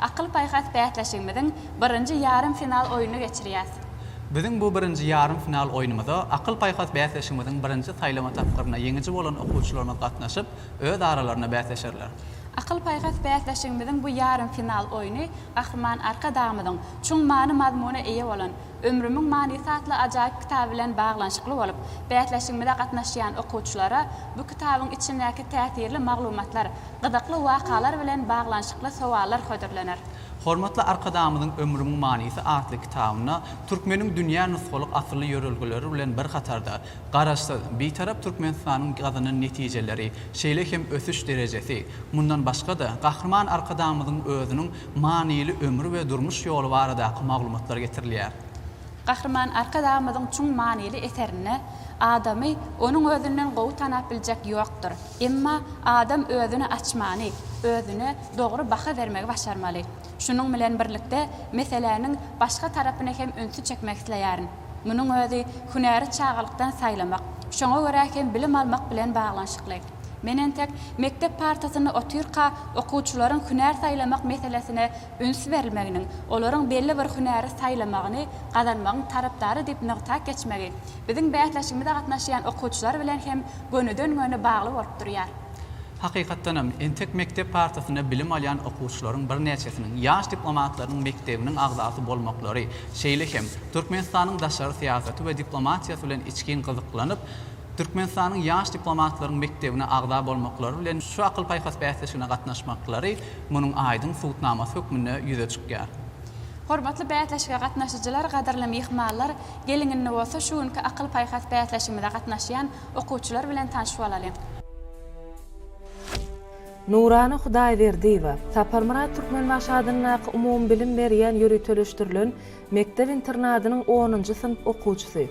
Akyl-paýhas bäsleşigimiziň birinji ýarym final oýnuny geçirýäs. Biziň bu birinji ýarym final oýnumyza Akyl-paýhas bäsleşigimiziň birinji saýlama tapgyryna ýeňiji bolan okuwçylarymyz gatnaşyp, öz aralarynda bäsleşerler. Akyl-paýhas bäsleşigimiziň bu ýarym final oýny Gahryman Arkadagymyzyň çuň many-mazmuna eýe bolan Ömrümiň manysy atly ajaýyp kitaby bilen baglanyşykly bolup, bäsleşigimize gatnaşýan okuwçylara bu kitabyň içindäki täsirli maglumatlar, Gyzykly wakalar bilen baglanyşykly sowallar hödürlener. Hormatly Arkadagymyzyň Ömrümiň manysy atly kitabynda türkmeniň dünýä nusgalyk asylly ýörelgeleri bilen bir hatarda, Garaşsyz, Bitarap Türkmenistanyň gazanan netijeleri, şeýle hem ösüş derejesi, mundan başga-da, Gahryman Arkadagymyzyň özüniň manyly ömri we durmuş ýoly baradaky maglumatlar getirilýär. Gahryman Arkadagymyzyň çuň manyly eserinde Adamy onuň özünden gowy tanap biljek ýokdur. Emma adam özüni açmany, özüne dogry baha bermegi başarmaly. Şunuň bilen birlikde meseläniň başga tarapyna hem ünsi çekmek isleýärin. Munuň özi hünäri çagalykdan saýlamak, şoňa görä hem bilim almak bilen baglanyşykly. Men entek mekdep partasynda otyrka okuwçylaryň hünär saýlamak meselesine üns berilmeginiň, olaryň belli bir hünäri saýlamagyny gazanmagyň tarapdary diýip nygtap geçmegi biziň bäsleşigimize gatnaşýan okuwçylar bilen hem gönüden-göni bagly bolup durýar. Hakykatdan hem, entek mekdep partasynda bilim alýan okuwçylaryň birnäçesiniň ýaş diplomatlarynyň mekdebiniň agzasy bolmaklary, şeýle hem Türkmenistanyň daşary syýasaty we diplomatiýasy bilen içgin gyzyklanyp, Türkmenistanyň ýaş diplomatlaryň mekdebine agza bolmaklary bilen şu akyl-paýhas bäsleşigine gatnaşmaklary munuň aýdyň subutnamasy hökmünde ýüze çykýar. Hormatly bäsleşige gatnaşyjylar, gadyrly myhmanlar, geliň indi bolsa şu günki akyl-paýhas bäsleşigimize gatnaşýan okuwçylar bilen tanş bolalyň. Nurana Hudaýberdiýewa, Saparmyrat Türkmenbaşy adyndaky umumybilim berýän ýöriteleşdirilen mekdep-internadynyň onunjy synp okuwçysy.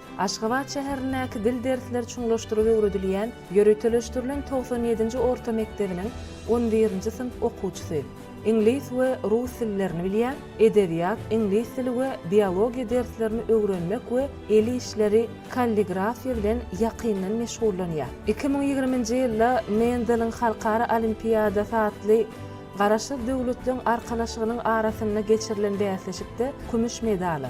Aşgabat şäherindäki dil dersleri çuňlaşdyryp öwredilýän ýöriteleşdirilen togsan ýedinji orta mekdebiniň on birinji synp okuwçysy. Iňlis we rus dillerini bilýär, edebiýat, iňlis dili we biologiýa derslerini öwrenmek we el işleri, kalligrafiýa bilen ýakyndan meşgullanýar. Iki müň ýigriminji ýylda Menzeliň halkara olimpiadasy atly Garaşsyz Döwletleriň Arkalaşygynyň arasynda geçirilen bäsleşikde kümüş medala,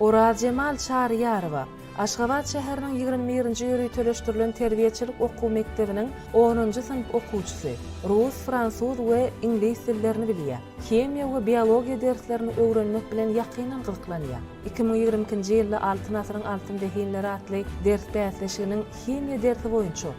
Orazjemal Çaryýarowa, Aşgabat şäheriniň ýigrimi birinji ýöriteleşdirilen terbiýeçilik okuw mekdebiniň onunjy synp okuwçysy. Rus, fransuz we iňlis dillerini bilýär. Himiýa we biologiýa derslerini öwrenmek bilen ýakyndan gyzyklanýar. Iki müň ýigrimi ikinji ýylda Altyn asyryň altyn zehinleri atly ders bäsleşiginiň himiýa dersi boýunça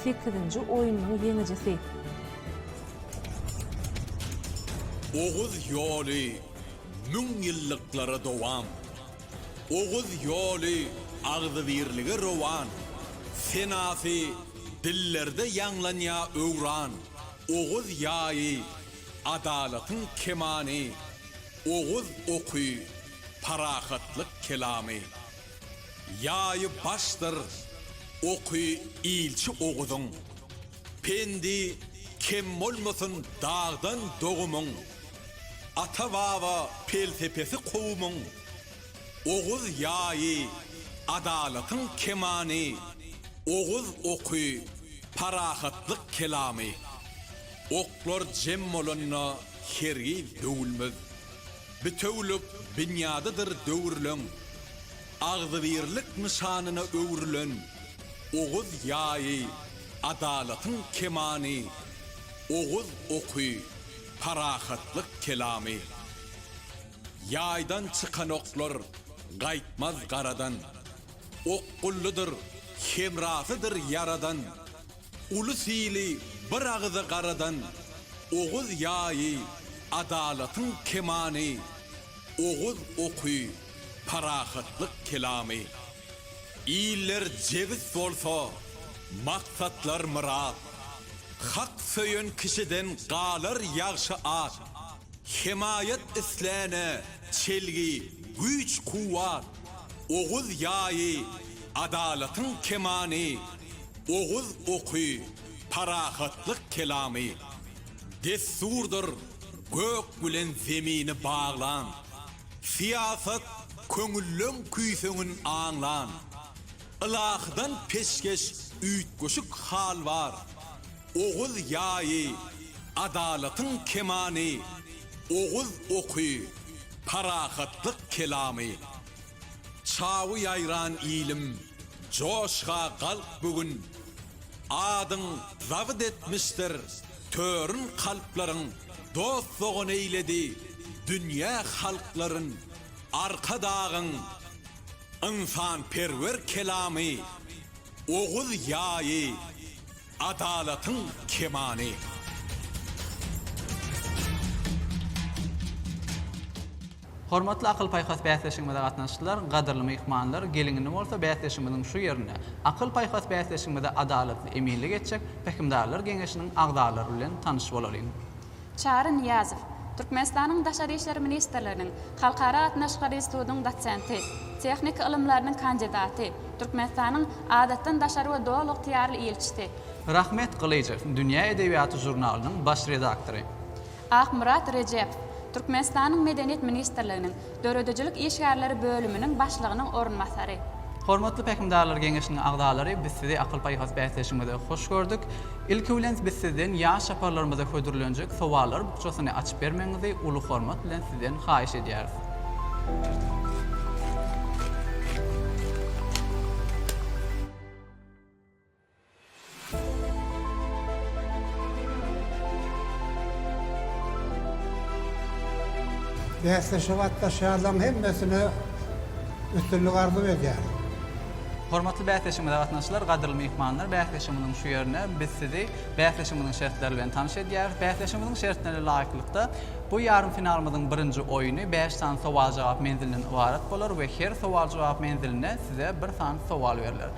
Sekizinji oýnunyň ýeňijisi. Oguz ýoly müň ýyllyklara dowam. Oguz ýoly agzybirlige rowan. Senasy dillerde ýaňlanýa öwran. Oguz ýaýy, adalatyň kemany. Oguz oky, parahatlyk kelamy. Ýaýy başdyr oky ilçi Oguzyň, Pendi kem bolmasyn dagdan dogumyň, Ata-baba pelsepesi kowumyň, Oguz ýaýy adalatyň kemany, Oguz oky parahatlyk kelamy. Oklar jem bolanda hergiz döwülmez. Bitewülik binýadydyr döwürleň agzybirlik nyşanyna öwrülen Oguz ýaýy, adalatyň kemany, Oguz oky, parahatlyk kelamy. Ýaýdan çykan oklar gaýtmaz garadan, Okgullydyr, hemrasydyr Ýaradan. Uly sili bir agyza garadan Oguz ýaýy, adalatyň kemany, Oguz oky, parahatlyk kelamy. Iller jebis bolsa, maksatlar myrat, Hak söýen kişiden galar ýagşy at, Hemaýat isläne çelgi, güýç-kuwwat, Oguz ýaýy, Adalatyň kemany, oguz oky, parahatlyk kelamy, dessurdyr gök bilen zemini baglan, syýasat köňülleň küýseňin aňlan, ylahydan peşgeş üýtgeşik hal bar, oguz ýaýy, adalatyň kemany, oguz oky, parahatlyk kelamy. Çawy ýaýran ilim, joşga galk bu gün, Adyň zabt etmişdir törün kalplaryň, Dost-dogan eýledi dünýä halklaryn, Arkadagyň ynsanperwer kelamy, Oguz ýaýy. Adalatyň kemany. Hormatly akyl-paýhas bäsleşigimize gatnaşyjylar, gadyrly myhmanlar, gelin-indi bolsa bäsleşigimiziň şu ýerinde, akyl-paýhas bäsleşigimize adalatly eminlik etjek Pähimdarlar geňeşiniň agzalary bilen tanyş bolalyň. Çary Nyýazow, Türkmenistanyň Daşary işler ministrliginiň Halkara gatnaşyklary institutynyň dosenti, tehniki ylymlarynyň kandidaty, Türkmenistanyň Adatdan daşary we doly ygtyýarly ilçisi, Rahmet Gylyjow, Dünýä edebiýaty žurnalynyň baş redaktory. Akmyrat Rejep, Türkmenistanyň Medeniýet ministrliginiň Döredijilik işgärleri bölüminiň başlygynyň orunbasary. Hormatly Pähimdarlar Geňeşiniň agzalary, biz sizi akyl-paýhas bäsleşigiňize hoş gördük. Ilki bilen biz sizden ýaş çaparlarymyza hödürlenjek sowallar bukjasyny açyp bermegiňizi uly hormat bilen sizden haýyş edýäris. Bäsleşige gatnaşýanlaryň hemmesine üstünlik arzuw edýärin. Hormatly bäsleşigimize gatnaşyjylar, gadyrly myhmanlar! Bäsleşigimiziň şu ýerine biz sizi bäsleşigimiziň şertleri bilen tanyş edýäris. Bäsleşigimiziň şertlerine laýyklykda, bu ýarym finalymyzyň birinji oýny bäş sany sowal-jogap menzilinden ybarat bolar we her sowal-jogap menziline size bir sany sowal berler.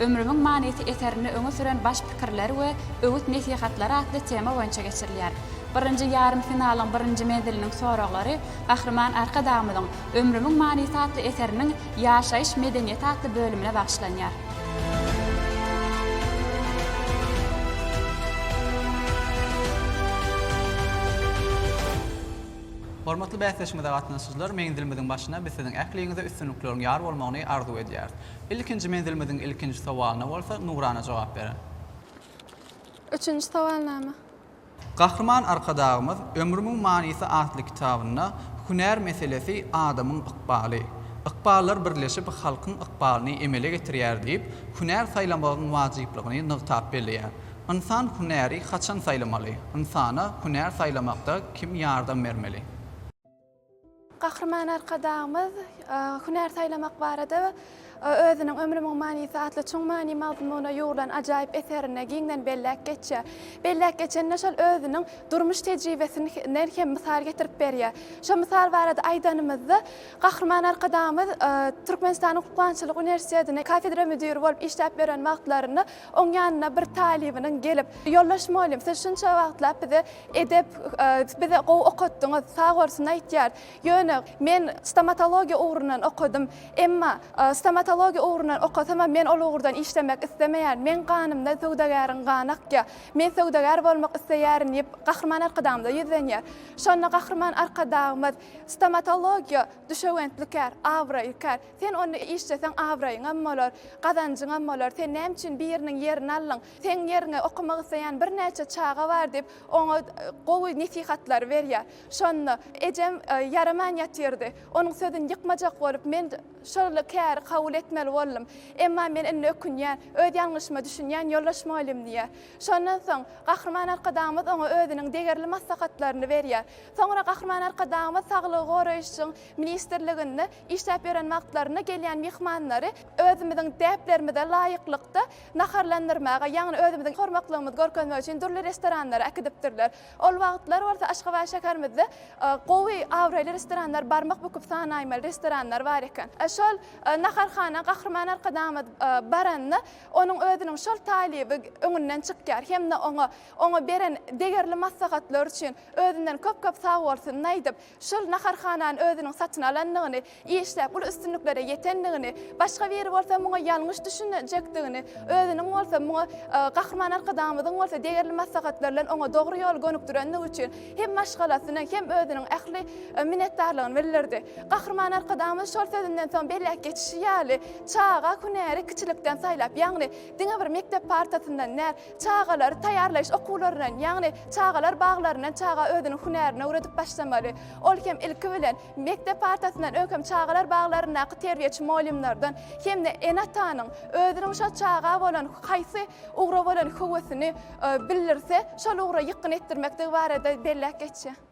Ömrümiň manysy eserinde öňe süren baş pikirler we öwüt-nesihatlar atly tema boýunça geçirilýär. Birinji ýarym finalyň birinji menziliniň soraglary Gahryman Arkadagymyzyň Ömrümiň manysy atly eseriniň Ýaşaýyş medeniýeti atly bölümine bagyşlanýar. Hormatly bäsleşigimize gatnaşyjylar, menzilimiziň başyna biz siziň ähliňize üstünlikleriň ýar bolmagyny arzuw edýäris. Ilkinji menzilimiziň ilkinji sowalyna bolsa Nurana jogap berer. Üçünji sowalnama. Gahryman Arkadagymyz Ömrümiň manysy atly kitabynda Hünär meselesi adamyň ykbaly. Ykballar birleşip halkyň ykbalyny emele getirýär diýip, hünär saýlamagyň wajyplygyny nygtap belleýär. Ynsan hünäri haçan saýlamaly? Ynsana hünär saýlamakda kim ýardam bermeli? Gahryman Arkadagymyz hünär saýlamak barada özüniň Ömrümiň manysy atly çuň many mazmuna ýugrulan ajaýyp eserinde giňden belläp geçýär. Belläp geçende şol özüniň durmuş tejribesinden hem mysal getirip berýär. Şo mysal barada aýdanymyzda, Gahryman Arkadagymyz Türkmenistanyň Hukukanyçylyk uniwersitetine kafedra müdiri bolup işläp ýören wagtlarynda Oň ýanyna bir talybynyň gelip, Ýoldaş mugallym, siz şunça wagtlap bize edep, bizi gowy okatdyňyz, sag bolsun aýtýar. Ýöne, men stomatologiýa ugrundan okadym. Emma, stomatologiýa ugrundan okasamam, men ol ugurdan işlemek islemeýän. Meň ganymda söwdagäriň gany akýar. Men söwdagär bolmak isleýärin diýip, Gahryman Arkadagymyza ýüzlenýär. Şonda Gahryman Arkadagymyz, Stomatologiýa düşewüntlikär, abraýykär. Sen ony işleseň abraýyňam bolar, gazanjyňam bolar, sen näme üçin biriniň ýerini aldyň, seň ýeriňe okamak isleýän birnäçe çaga bar diýip, oňa gowy nesihatlary berýär. Şonda ejem ýaraman ýatyrdy. Onuň sözüni ýykmajak bolup, men şol käri kabul etmeli boldum. Emma men indi ökünýän, öz ýalňyşyma düşünýän ýoldaş mugallym diýýär. Şondan soň Gahryman Arkadagymyz oňa özüniň degerli maslahatlaryny berýär. Soňra Gahryman Arkadagymyz Saglygy goraýyşyň ministrliginde Işläp ýören wagtlarynda gelýän myhmanlary özümiziň däplerimize laýyklykda naharlandyrmaga, ýagny özümiziň hormaklygymyzy görkezmek üçin dürli restoranlara äkidipdirler. Ol wagtlar bolsa Aşgabat şäherimizde gowy, abraýly restoranlar barmak büküp sanaýmaly restoranlar bar eken. Şol naharhana Gahryman Arkadagymyz baranda onuň özüniň şol talyby öňünden çykýar hem-de oňa oňa beren degerli maslahatlar üçin özünden köp-köp sagbolsunyny aýdyp, Şol naharhanany özüniň satyn alandygyny, işläp uly üstünliklere ýetendigini, başga biri bolsa muňa ýalňyş düşünjekdigini, özüniň bolsa muňa Gahryman Arkadagymyzyň bolsa degerli maslahatlary bilen oňa dogry ýoly gönükdirendigi üçin hem maşgalasyna, hem özüniň ähli minnetdarlygyny bildirdi. Gahryman Arkadagymyz şol sözünden soň belläp geçişi ýaly, çaga hünäri kiçilikden saýlap, ýagny diňe bir mekdep partasyndan däl, Çagalary taýýarlaýyş okuwlaryndan, ýagny çagalar baglaryndan çaga özüniň hünärini öwredip başlamaly. Ol hem ilki bilen, mekdep partasyndan öň hem çagalar baglaryndaky terbiýeçi mugallymlardan hem-de ene-atanyň özüniň şol çaga bolan haýsy ugra bolan höwesini bildirse, şol ugra ýykgyn etdirmekdigi barada belläp geçýär.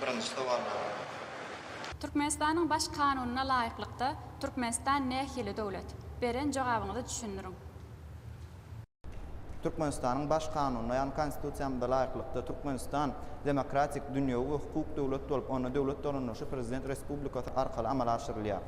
Birinji sowallaryň. Türkmenistanyň Baş Kanunyna laýyklykda Türkmenistan nähili döwlet? Beren jogabyňyzy düşündiriň. Türkmenistanyň Baş Kanunyna, ýagny Konstitusiýamyza laýyklykda, Türkmenistan demokratik, dünýewi we hukuk döwlet bolup, onda döwlet dolandyryşy Prezident Respublikasy arkaly amala aşyrylýar.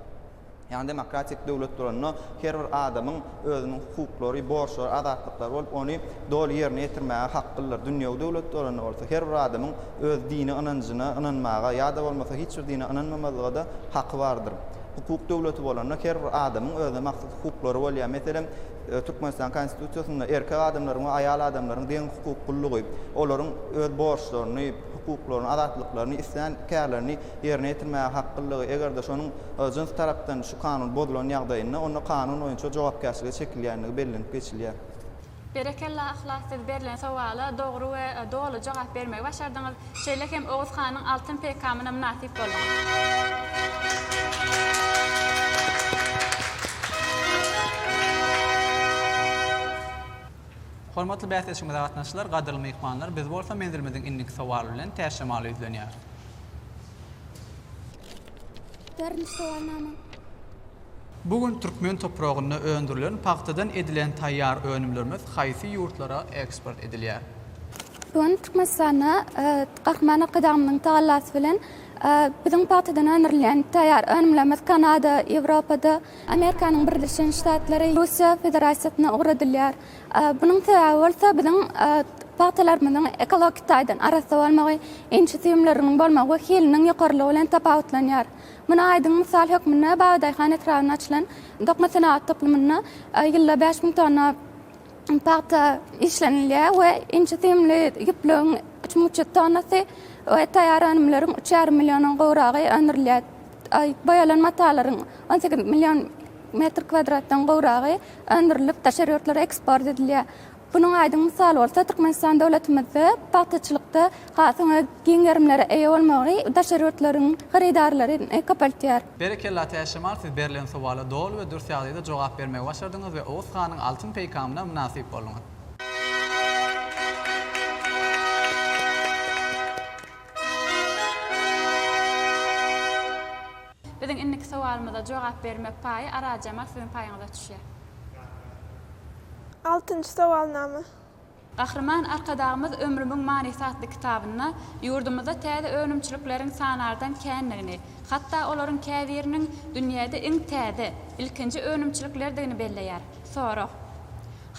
Ýagny demokratik döwlet duranda her bir adamyň özüniň hukuklary, borçlary, azatlyklary bolup, ony doly ýerine ýetirmäge haklydyr. Dünýewi döwlet duranda bolsa her bir adamyň öz dini ynanjyna ynanmaga ýa-da bolmasa hiç bir dine ynanmamazlyga-da haky bardyr. Hukuk döwleti bolanda her bir adamyň özüne mahsus hukuklary bolýar. Meselem, Türkmenistan Konstitusiýasynda erkek adamlaryň we aýal adamlaryň deň hukuklylygy, olaryň öz borçlaryny, hukuklaryny, azatlyklaryny, islän kärlerini ýerine ýetirmäge haklydygy, eger-de şonuň jyns tarapdan şu Kanun bozulan ýagdaýynda, onda Kanun boýunça jogapkärçilige çekilýändigi bellenip geçilýär. Berekella Yhlas siz berlen sowala dogry we doly jogap bermegi başardyňyz. Şeýle hem Oguz hanyň altyn peýkamyna mynasyp bolduňyz. Hormatly bäsleşigimize gatnaşyjylar, gadyrly myhmanlar, biz bolsa menzilimiziň indiki sowaly bilen Täç şemala ýüzlenýäris. Dördünji sowalnama. Bu gün türkmen topragynda öndürilen pagtadan edilen taýýar önümlerimiz haýsy ýurtlara eksport edilýär? Bu gün Türkmenistanda Gahryman Arkadagymyzyň tagallasy bilen biziň pagtadan öndürilýän taýýar önümlerimiz Kanada, Ýewropada, Amerikanyň Birleşen Ştatlary Russiýa Federasiýasyna ugradylýar. Bunuň sebäbi bolsa biziň pagtalarymyzyň ekologik taýdan arassa bolmagy, inçe süýümleriniň bolmagy we hiliniň ýokarylygy bilen tapawutlanýar. Muny aýdyň mysal hökmünde Babadaýhan etrabynda açylan dokma senagat toplumynda ýylda bäş müň tonna pagta işlenilýär we inçe süýümli ýüplügiň üç müň üç ýüz tonnasy we taýýar önümleriň üç ýarym milliondan gowragy öndürilýär. Boýalan matalaryň on sekiz million metr kwadratdan gowragy öndürilip, daşary ýurtlara eksport edilýär. Munuň aýdyň mysaly bolsa, Türkmenistan döwletimizde pagtaçylykda hasyň öz giň gerimlere eýe bolmagy daşary ýurtlaryň hyrydarlaryny köpeltýär. Berekella Täç Şemal siz berlen sowala doly we dürs ýagdaýda jogap bermegi başardyňyz we Oguz hanyň altyn peýkamyna mynasyp bolduňyz. Biziň indiki sowalymyza jogap bermek paýy Arazjamal siziň paýyňyza düşýär. Altynjy sowalnama. Gahryman Arkadagymyz Ömrümiň manysy atly kitabynda ýurdumyzda täze önümçilikleriň sanardan kändigini, hatda olaryň käbiriniň dünýäde iň täze, ilkinji önümçiliklerdigini belleýär. Sorag.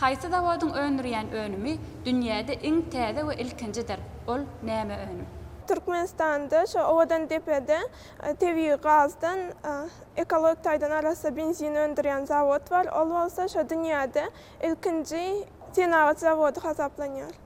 Haýsy zawodyň öndürýän önümi dünýäde iň täze we ilkinjidir, ol näme önüm? Türkmenistanda şu Owadandepede tebigy gazdan ekologik taýdan arassa benzin öndürýän zawod bar, ol bolsa şu dünýäde ilkinji senagat zawody hasaplanýar.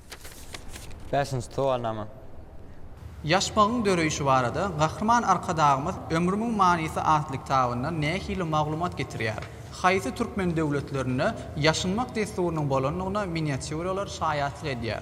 Bäşinji sowalnama. Ýaşmagyň döreýşi barada Gahryman Arkadagymyz Ömrümiň manysy atly kitabynda nähili maglumat getirýär? Haýsy türkmen döwletlerinde ýaşynmak dessurynyň bolandygyna miniatýuralar şaýatlyk edýär?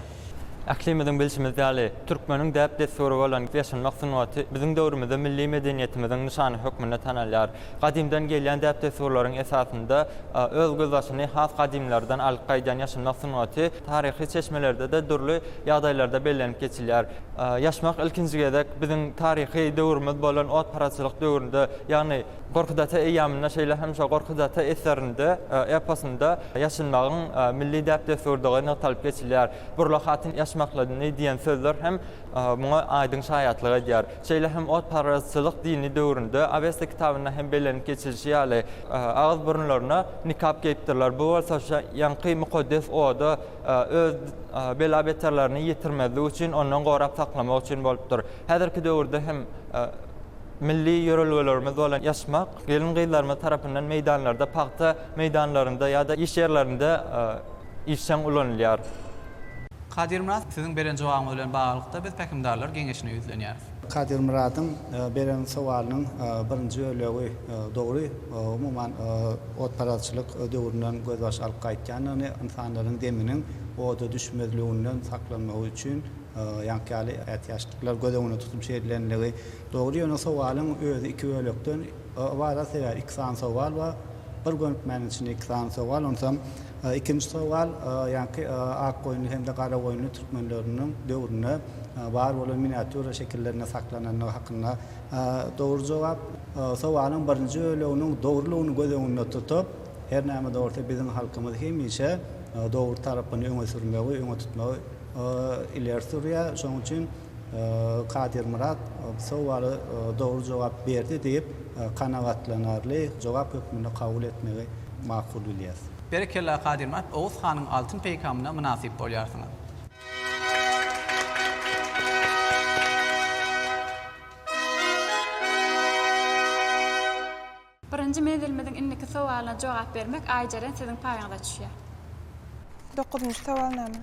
Ählimiziň bilşimiz ýaly, türkmeniň däp-dessury bolan ýaşynmak sungaty biziň döwrümizde milli medeniýetimiziň nyşany hökmünde tanalýar. Gadymdan gelýän däp-dessurlaryň esasynda öz gözbaşyny has gadymlardan alyp gaýdýan ýaşynmak sungaty taryhy çeşmelerde-de dürli ýagdaýlarda bellenip geçilýär. Ýaşmak ilkinji gezek biziň taryhy döwrümiz bolan otparaçylyk döwründe, ýagny Gorkut ata eýýamynda, şeýle hem şo Gorkut ata eserinde, eposynda ýaşynmagyň milli däp-dessurdygy nygtalyp geçilýär. Burla hatyn ýaşmaklady diýen sözler hem muňa aýdyň şaýatlyk edýär. Şeýle hem otparazçylyk dini döwründe Awesta kitabynda hem bellenip geçilişi ýaly, agyz-burunlaryna nikap geýipdirler, bu bolsa şa ýaňky mukaddes oda öz bela-beterlerini ýetirmezlik üçin ondan gorap saklamak üçin bolupdyr. Häzirki döwürde hem milli ýörelgelerimiz bolan ýaşmak gelin-gyzlarymyz tarapyndan meýdanlarda, pagta meýdanlarynda ýa-da iş ýerlerinde, işjeň ulanylýar. Kadyrmyrat, siziň beren jogabyňyz bilen baglylykda biz Pähimdarlar geňeşine ýüzlenýäris. Kadyrmyradyň beren sowalynyň birinji bölegi dogry. Umuman, otparazçylyk döwründen gözbaş alyp gaýtýandygyny, ynsanlaryň deminiň oda düşmezliginden saklanmagy üçin ýaňky ýaly ätiýaçlyklar göz öňünde tutup şey edilenligi dogry. Ýöne sowalyň özi iki bölekden ybarat sebäbi iki sany sowal bar. Bir gönükmäniň içinde iki sany sowal. Onsoň. Ikinji sowal, ýaňky Akgoýunly hem-de Garagoýunly türkmenleriniň döwründe bar bolan miniatýura şekillerinde saklanandygy hakynda dogry jogap. Sowalyň birinji böleginiň dogrulygyny göz öňünde tutup, her näme-de bolsa biziň halkymyz hemişe dogry tarapyny öňe sürmegi, öňe tutmagy ileri sürýär. Şonuň üçin Kadyrmyrat bu sowala dogry jogap berdi diýip, kanagatlanarly jogap hökmünde kabul etmegi makul bilýäs. Berekella Kadyrmyrat Oguz hanyň altyn peýkamyna mynasyp bolýarsyňyz. Birinji menzilimiziň indiki sowalyna jogap bermek Aýjeren siziň paýyňyza düşýär. Dokuzynjy sowalnama.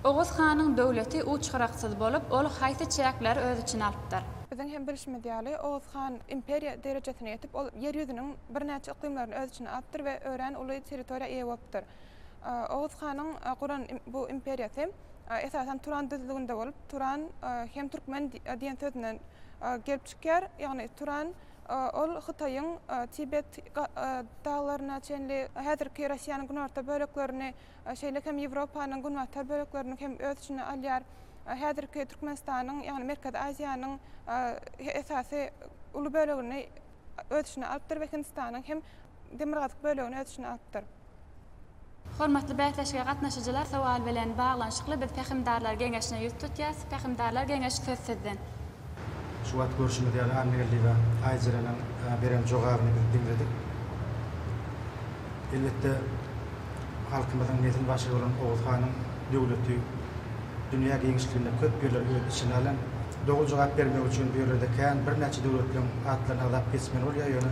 Oguz hanyň döwleti uç-gyraksyz bolup, ol haýsy çäkleri öz içine alypdyr? Biziň hem bilşimiz ýaly, Oguz han imperiýa derejesine ýetip, ol Ýer ýüzüniň birnäçe yklymlaryny öz içine alypdyr we örän uly territoriýa eýe bolupdyr. Oguz hanyň guran bu imperiýasy esasan Turan düzlüginde bolup, Turan hem türkmen diýen sözünden gelip çykýar. Ýagny Turan ol Hytaýyň Tibet daglaryna çenli, häzirki Russiýanyň günorta böleklerini, şeýle hem Ýewropanyň günbatar böleklerini hem öz içine alýar. Häzirki Türkmenistanyň, ýagny Merkezi Aziýanyň esasy uly bölegini öz içine alypdyr we Hindistanyň hem Demirgazyk bölegini öz içine alypdyr. Hormatly bäsleşige gatnaşyjylar sowal bilen baglanyşykly biz Pähimdarlar geňeşine ýüz tutýas. Pähimdarlar geňeşi söz sizden. Şu wagt görşümiz ýaly Anna Geldiýewa Aýjereniň beren jogabyny biz diňledik. Elbetde halkymyzyň nesil başygy bolan Oguz hanyň döwleti dünýä giňişliginde köp ýerleri öz içine alan. Doly jogap bermek üçin bu ýerlerde kän birnäçe döwletleriň atlaryny agzap geçmeli bolýar ýöne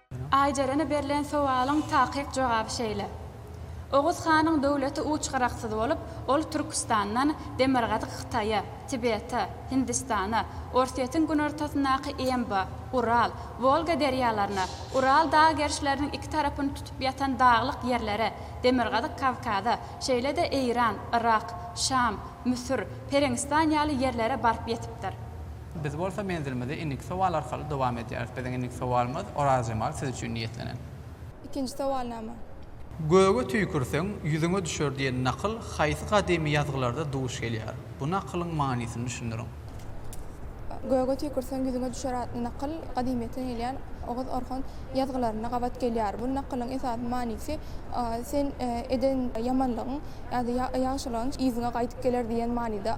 Aýjerene berlen sowalyň takyk jogaby şeýle, Oguz hanyň döwleti uç-gyraksyz bolup, ol Türküstandan demirgazyk Hytaýa, Tibete, Hindistana, Orsýetiň günortasyndaky Emba, Ural, Wolga derýalaryna, Ural dag gerşleriniň iki tarapyny tutup ýatan daglyk ýerlere, demirgazyk Kawkaza, şeýle-de Eýran, Yrak, Şam, Müsür, Pereňistan ýaly ýerlere baryp ýetipdir. Biz bolsa menzilimizi indiki sowal arkaly dowam edýäris. Biziň indiki sowalymyz, Orazjemal siz üçin niýetlenen. Ikinji sowalnama. Göge tüýkürseň, ýüzüňe düşer diýen nakyl haýsy gadymy ýazgylarda duş gelýär? Bu nakylyň manysyny düşündiriň. Göge tüýkürseň, ýüzüňe düşer atly nakyl gadymyýetden gelýän oguz-orhon ýazgylarynda gabat gelýär. Bu nakylyň esasy manysy, Sen eden ýamanlygyň ýa-da ýagşylygyň yzyňa gaýdyp geler diýen manyda.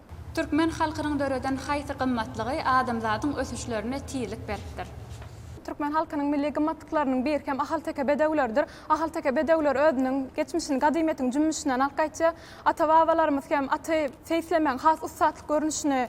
Türkmen halkynyň döreden haýsy gymmatlygy adamzadyň ösüşlerine tizlik beripdir? Türkmen halkynyň milli gymmatlyklarynyň biri hem ahalteke bedewleridir. Ahalteke bedewleri özüniň geçmişini gadymyýetiň jümmüşinden alyp gaýtýar. Ata-babalarymyz hem aty seýislemegiň has ussatlyk görnüşini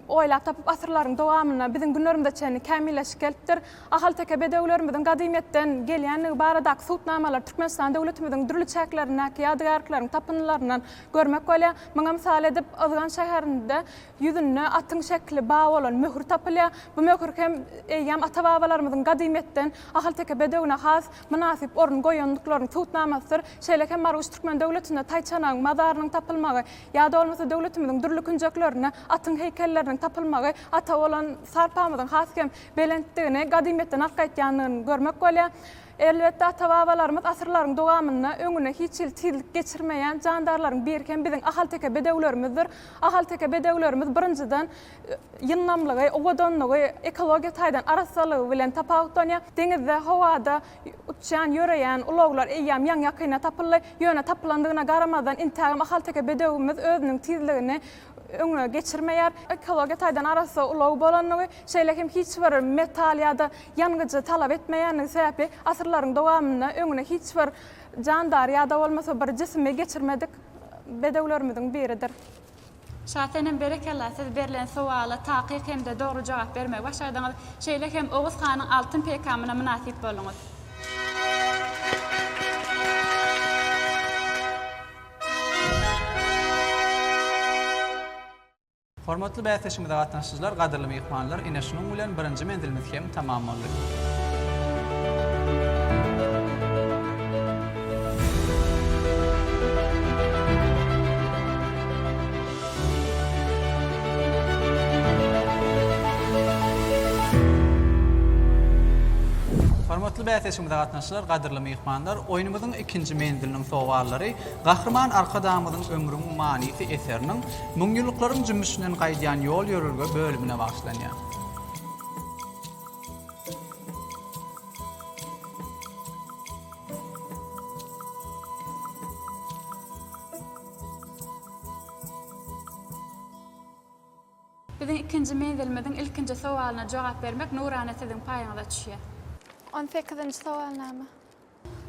oýlap tapyp, asyrlaryň dowamynda biziň günlerimize çenli kämilleşip gelipdir. Ahalteke bedewlerimiziň gadymyýetden gelýändigi baradaky subutnamalar Türkmenistan döwletimiziň dürli çäklerindäki ýadygärlikleriň tapyndylaryndan Görmek bolýar. Muňa mysal edip, Yzgan şäherinde ýüzünde atyň şekili bar bolan möhür tapylýar. Bu möhür hem eýýäm ata-babalarymyzyň gadymyýetden ahalteke bedewine has mynasyp orun goýandyklarynyň subutnamasydyr. Şeýle hem Marguş türkmen döwletinde taýçanagyň mazarynyň tapylmagy ýa-da bolmasa döwletimiziň dürli künjeklerinde atyň heýkelleriniň tapylmagy ata bolan sarpamyzyň has hem belentdigini, gadymyýetden arkaýtýandygyny görmek bolýar. Elbetde, ata-babalarymyz asyrlaryň dowamynda öňüne hiç hili tizlik geçirmeýän jandarlaryň birkem biziň ahalteke bedewlerimizdir. Ahalteke bedewlerimiz, birinjiden, ýyndamlygy, owadanlygy, ekologiýa taýdan arassalygy bilen tapawutlanýar. Deňizde, howada uçýan, ýöreýän ulaglar eýýäm ýaňy-ýakynda tapyldy. Ýöne tapylandygyna garamazdan, intägem ahalteke bedewimiz özüniň tizligini öňe geçirmeýär. Ekologiýa taýdan arassa ulag bolandygy, şeýle hem hiç bir metal ýa-da Ýangyjy talap etmeýändigi sebäpli asyrlaryň dowamynda öňüne hiç bir jandary ýa-da bolmasa bir jisimi geçirmedik bedewlerimiziň biridir. Şasenem berekella siz berlen sowala takyk hemde dogry jogap bermegi başardyňyz. Şeýle hem Oguz hanyň altyn peýkamyna mynasyp bolduňyz. Hormatly bäsleşigimize gatnaşyjylar, gadyrly myhmanlar, ine şunuň bilen birinji menzilimiz hem tamam boldy. Hormatly bäsleşigimize gatnaşyjylar, gadyrly myhmanlar, oýnumyzyň ikinji menziliniň sowallary Gahryman Arkadagymyzyň Ömrüň manysy eseriniň Müňýyllyklaryň jümmüşinden gaýdýan ýol-ýörelge bölümine bagyşlanýar. Biziň ikinji menzilimiziň ilkinji sowalyna jogap bermek nurana siziň paýyňyza düşýär. On sekizinji sowalnama.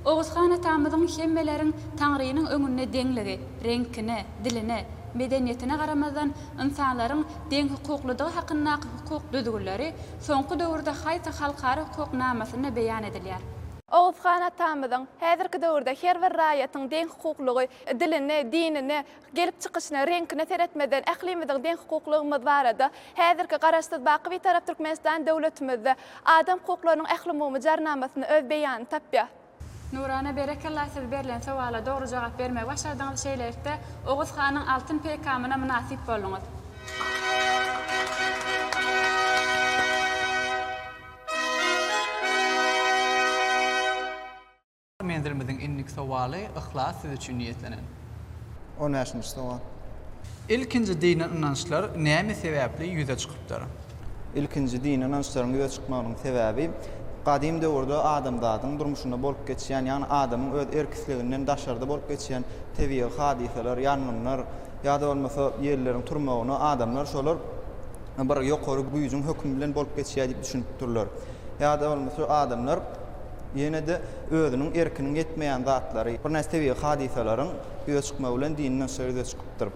Oguzhan atamyzyň hemmeleriň Taňrynyň öňünde deňligi, reňkine, diline, medeniýetine garamazdan ynsanlaryň deňhukuklydygy hakyndaky hukuk düzgünleri soňky döwürde haýsy halkara hukuk namasynda beýan edilýär? Oguzhan atamyzyň, Häzirki döwürde her bir raýatyň deňhukuklygy, dilini, dinini, Gelip çykyşyna, reňkine seretmezden, ählimiziň deňhukuklygymyz barada, häzirki Garaşsyz, baky Bitarap Türkmenistan döwletimizde adam hukuklarynyň ählumumy Jarnamasynda öz beýanyny tapýar. Nurana berekella siz berlen sowala dogry jogap bermegi başardyňyz şeýlelikde Oguz hanyň altyn peýkamyna mynasyp bolduňyz. Menzilimiziň indiki sowaly Yhlas siz üçin niýetlenen. On bäşinji sowal. Ilkinji dini ynançlar näme sebäpli ýüze çykypdyr? Ilkinji dini ynançlaryň ýüze çykmagynyň sebäbi gadym döwürde adamzadyň durmuşynda bolup geçýän, ýagny adamyň öz erk-isleginden daşarda bolup geçýän tebigy hadysalar, ýangynlar ýa-da bolmasa ýelleriň turmagyna adamlar şolar bir ýokary güýjüň hökümi bilen bolup geçýär diýip düşünipdirler. Ýa-da bolmasa adamlar Ýene-de özüniň erkiniň ýetmeýän zatlary, birnäçe tebigy hadysalaryň ýüze çykmagy bilen dini nusga ýüze çykypdyr.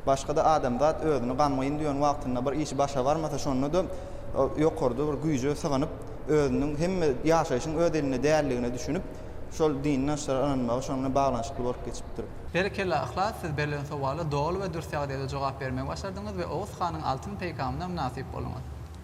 Başga-da adamzat özüni gamgyn duýan wagtynda bir işi başa barmasa şonda-da ýokarda bir güýje sygynyp, özüniň hemme ýaşaýşyň öz elinde däldigine düşünip, şol dini nusga ynanmagy şonuň bilen baglanyşykly bolup geçipdir. Berekella Yhlas siz berlen sowala doly we dürs ýagdaýda jogap bermegi başardyňyz we Oguz hanyň altyn peýkamyna mynasyp bolduňyz.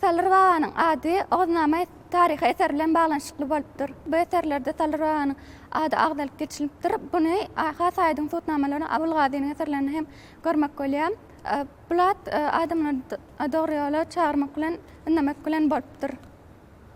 Salyr babanyň ady Oguznama taryhy eseri bilen baglanyşykly bolupdyr. Bu eserlerde Salyr babanyň ady agzalyp geçilipdir. Buny has aýdyň subutnamalaryny Abyl Gazynyň eserlerinde hem görmek bolýar. Bul at adamlary dogry ýola çagyrmak bilen, ündemek bilen bolupdyr.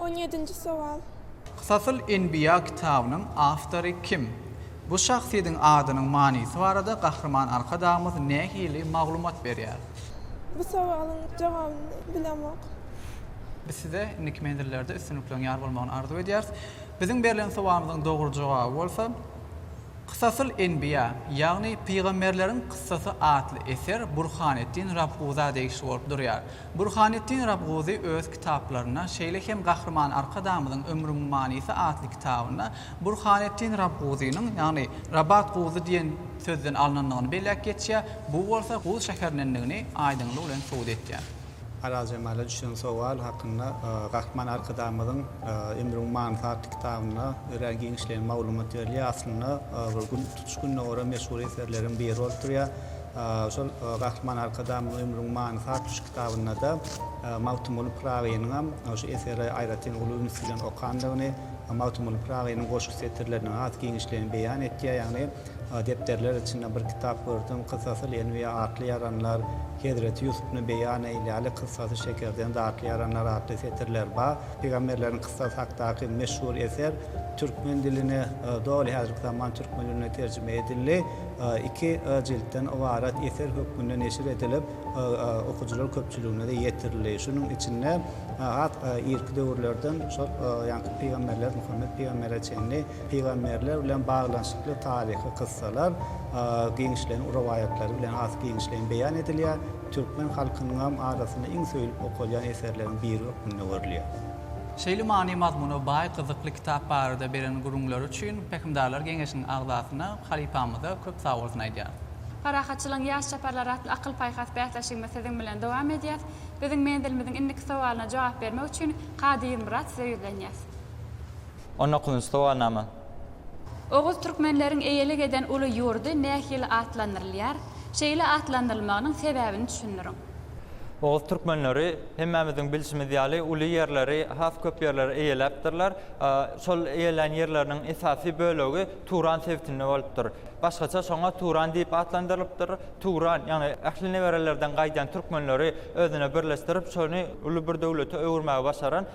On ýedinji sowal. Kysasyl enbiýa kitabynyň awtory kim? Bu şahsyýediň adynyň manysy barada Gahryman Arkadagymyz nähili maglumat berýär? Bu sowalyň jogabyny bilemok. Biz size indiki menzillerde üstünlikleriň ýar bolmagyny arzuw edýäris. Biziň berlen sowalymyzyň dogry jogaby bolsa, Kysasyl enbiýa, ýagny Pygamberleriň kyssasy atly eser Burhaneddin Rabguza degişli bolup durýar. Burhanetdin Rabguzy öz kitaplarynda, şeýle hem Gahryman Arkadagymyzyň Ömrümiň manysy atly kitabynda Burhanetdin Rabguzynyň, ýagny Rabat Guzy diýen sözden alnandygyny belläp geçýär, bu bolsa Guz şäherinindigini aýdyňlygy bilen subut edýär. Arazjemala düşen sowal hakynda Gahryman Arkadagymyzyň Ömrümiň manysy atly kitabynda örän giňişleýin maglumat berilýär. Aslynda bu gün tutuş gündogara meşhur eserleriň biri bolup durýar. Şol Gahryman Arkadagymyzyň Ömrüň manysy atly şu kitabynda-da Magtymguly Pyragynyňam şu eseri aýratyn uly üns bilen okandygyny, Magtymguly Pyragynyň goşgy setirleriniň has giňişligini beýan etýär. Ýagny depderler içinde bir kitap gördüm, Kyssasyl Enbiýa atly ýaranlar, Hezreti Ýusubyny beýan eýläli, Kyssasy şekerden datly ýaranlar atly setirler bar. Pygamberleriň kyssasy hakdaky meşhur eser türkmen diline, doly häzirki zaman türkmen diline terjime edildi. iki jiltden ybarat eser hökmünde neşir edilip, okyjylar köpçüligine-de ýetirildi. Şunuň içinde has irki döwürlerden şol ýaňky pygamberler, Muhammet pygambere çenli pygamberler bilen baglanyşykly taryhy kyssalar giňişleýin rowaýatlary bilen has giňişleýin beýan edilýär, türkmen halkynyňam arasynda iň söýlüp okalýan eserleriň biri hökmünde görülýär. Şeýle many-mazmuna baý gyzykly kitap barada beren gürrüňleri üçin Pähimdarlar geňeşiniň agzasyna, halypamyza köp sagbolsun aýdýarys. Parahatçylygyň ýaş çaparlary atly akyl-paýhas bäsleşigimiz siziň bilen dowam edýär. Biziň menzilimiziň indiki sowalyna jogap bermek üçin Kady Ýylmyrat size ýüzlenýäs. On dokuzynjy sowalnama. Oguz türkmenleriň eýelik eden uly ýurdy nähili atlandyrylýar? Şeýle atlandyrylmagynyň sebäbini düşündiriň. Oguz türkmenleri hemmämiziň bilşimiz ýaly uly ýerleri, has köp ýerleri eýeläpdirler. Şol eýelän ýerleriniň esasy bölegi Turan sebitinde bolupdyr. Başgaça şoňa Turan diýip atlandyrylypdyr. Turan, ýagny ähli neberelerden gaýdan türkmenleri özüne birleşdirip, şony uly bir döwlete öwürmäge başaran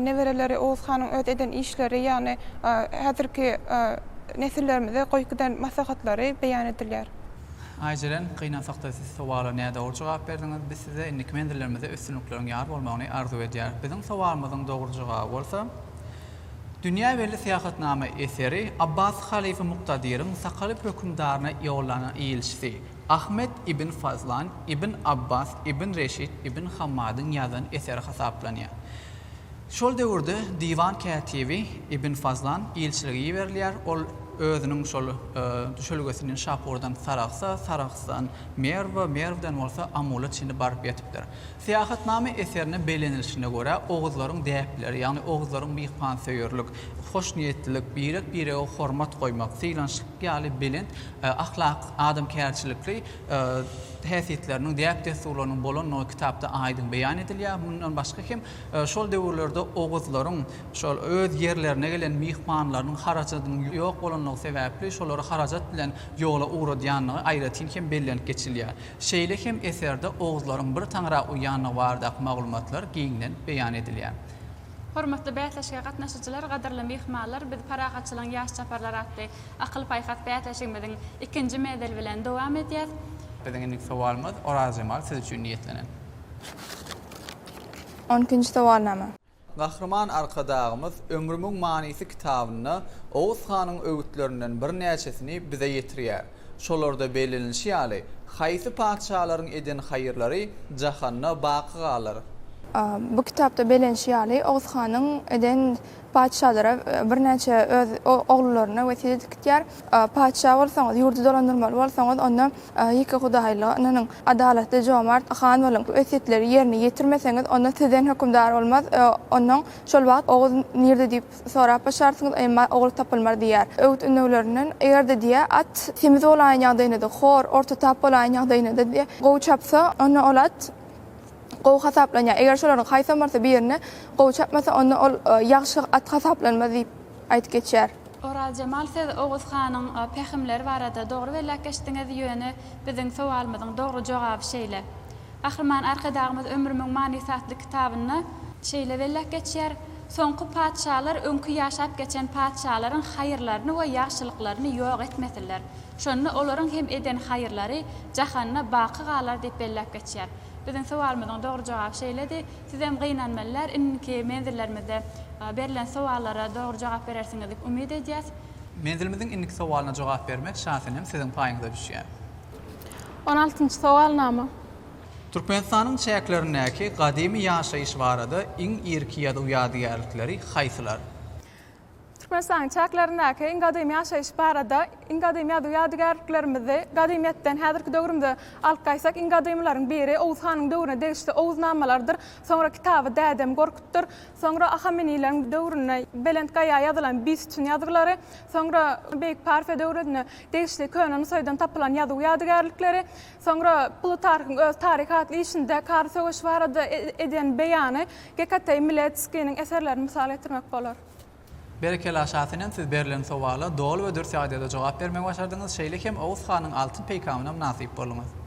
Nebereleri Oguz hanyň öz eden işleri, ýagny häzirki nesillerimize goýup giden maslahatlary beýan edilýär. Aýjeren, gynansak-da siz sowala nädogry jogap berdiňiz. Biz size indiki menzillerimizde üstünlikleriň ýar bolmagyny arzuw edýäris. Biziň sowalymyzyň dogry jogaby bolsa, Dünýä belli syýahatnama eseri Abbasy halyfa Muktadyryň Sakalyp hökümdaryna ýollanan ilçisi Ahmet ibn Fazlan, Ibn Abbas, Ibn Reşid, Ibn Hammadyň ýazan eseri hasaplanýar. Şol döwürde diwan kätibi Ibn Fazlan ilçilige iberilýär, ol özüniň şol düşelgesini Şapurdan Sarahsa, Sarahsdan Merwe, Merwden bolsa Amula çenli baryp ýetipdir. Syýahatnama eserinde bellenilişine görä, oguzlaryň däpleri, ýagny oguzlaryň myhmansöýerlik, hoşniýetlilik, birek-birege hormat goýmak, sylanşyklyk ýaly belent Ahlak, adamkärçilikli häsiýetleriniň, däp-dessurlarynyň bolandygy kitapda aýdyň beýan edilýär. Mundan başga hem, şol döwürlerde oguzlaryň şol öz ýerlerine gelen myhmanlarynyň harajadynyň ýok bolandygy sebäpli, şolary harajat bilen ýola ugradýandygy aýratyn hem bellenip geçilýär. Şeýle hem eserde oguzlaryň bir taňra uýandygy baradaky maglumatlar giňden beýan edilýär. Hormatly bäsleşige gatnaşyjylar, gadyrly myhmanlar, biz Parahatçylygyň ýaş çaparlary atly Akyl-paýhas bäsleşigimiziň ikinji mezeli bilen dowam edýäs. Biziň indiki sowalymyz Orazjemal siz üçin niýetlenen. On ikinji sowalnama. Gahryman Arkadagymyz Ömrümiň manysy kitabynda Oguz hanyň öwütlerinden birnäçesini bize ýetirýär. Şolarda bellenilişi ýaly, haýsy patyşalaryň eden haýyrlary jahanda baky galar? A. Bu kitapda bellenişi ýaly, Oguz hanyň eden Patyşalara birnäçe öz ogullaryna wesýet edip gitýär. Patyşa bolsaňyz, ýurdy dolandyrmaly bolsaňyz, onda ýekehudaýlyga ynanyň, adalatly, jomart han boluň. Wesýetleri ýerine ýetirmeseňiz, onda sizden hökümdar bolmaz. Ondan şol wagt Oguz nirde diýip sorap başarsyňyz, emma ogul tapylmaz diýýär. Öwüt-ündeglerinden eger-de diýýär, at semiz bolaýan ýagdaýynda-da, hor, orta tap bolaýan ýagdaýynda-da diýýär, gowy çapsa, onda ol at gowy hasaplanýar. Eger şolaryň haýsamyrsy birine gowy çapmasa, onda ol ýagşy at hasaplanmaz diýip aýdyp geçýär. Orazjemal siz Oguz hanyň pähimleri barada dogry belläp geçdiňiz, ýöne biziň sowalymyzyň dogry jogaby şeýle. Gahryman Arkadagymyz Ömrümiň manysy atly kitabynda. Şeýle belläp geçýär, Soňky patyşalar öňki ýaşap geçen patyşalaryň haýyrlaryny we ýagşylyklaryny ýok etmesinler. Şonda olaryň hem eden haýyrlary jahanda baky galar diýip belläp geçýär. Biziň sowalymyzyň dogry jogaby şeýledi. Sizem gynanmalylar, indiki menzillerimizde berlen sowallara dogry jogap berersiňiz diýip umyt edýäs. Menzilimiziň indiki sowalyna jogap bermek şansynyam siziň paýyňyza düşýär. On altynjy sowalnama. Türkmenistanyň çäklerindäki gadymy ýaşaýyş barada iň irki ýazuw ýadygärlikleri haýsylar? Türkmenistanyň çäklerindäki iň gadymy ýaşaýyş barada Iň gadymy ýazuw ýadygärliklerimizi gadymyýetden häzirki döwrümize alyp gaýtsak, iň gadymylaryň biri Oguz hanyň döwrüne degişli Oguz namalarydyr. Soňra kitaby Dädem Gorkutdyr. Soňra Ahemenileriň döwründe Belent gaýa ýazylan Bistun ýazgylary. Soňra Beýik Parfiýa döwrüne degişli Köne Nusaýdan tapylan ýazuw ýadygärlikleri. Soňra Plutarhyň öz Taryh atly işinde Kary söweşi barada eden beýany Gekateý Miletskiniň eserlerini mysal getirmek bolar. Berekella Şa senem siz berlen sowala doly we dürs ýagdaýda jogap bermegi başardyňyz şeýle hem Oguz hanyň altyn peýkamyna mynasyp bolduňyz.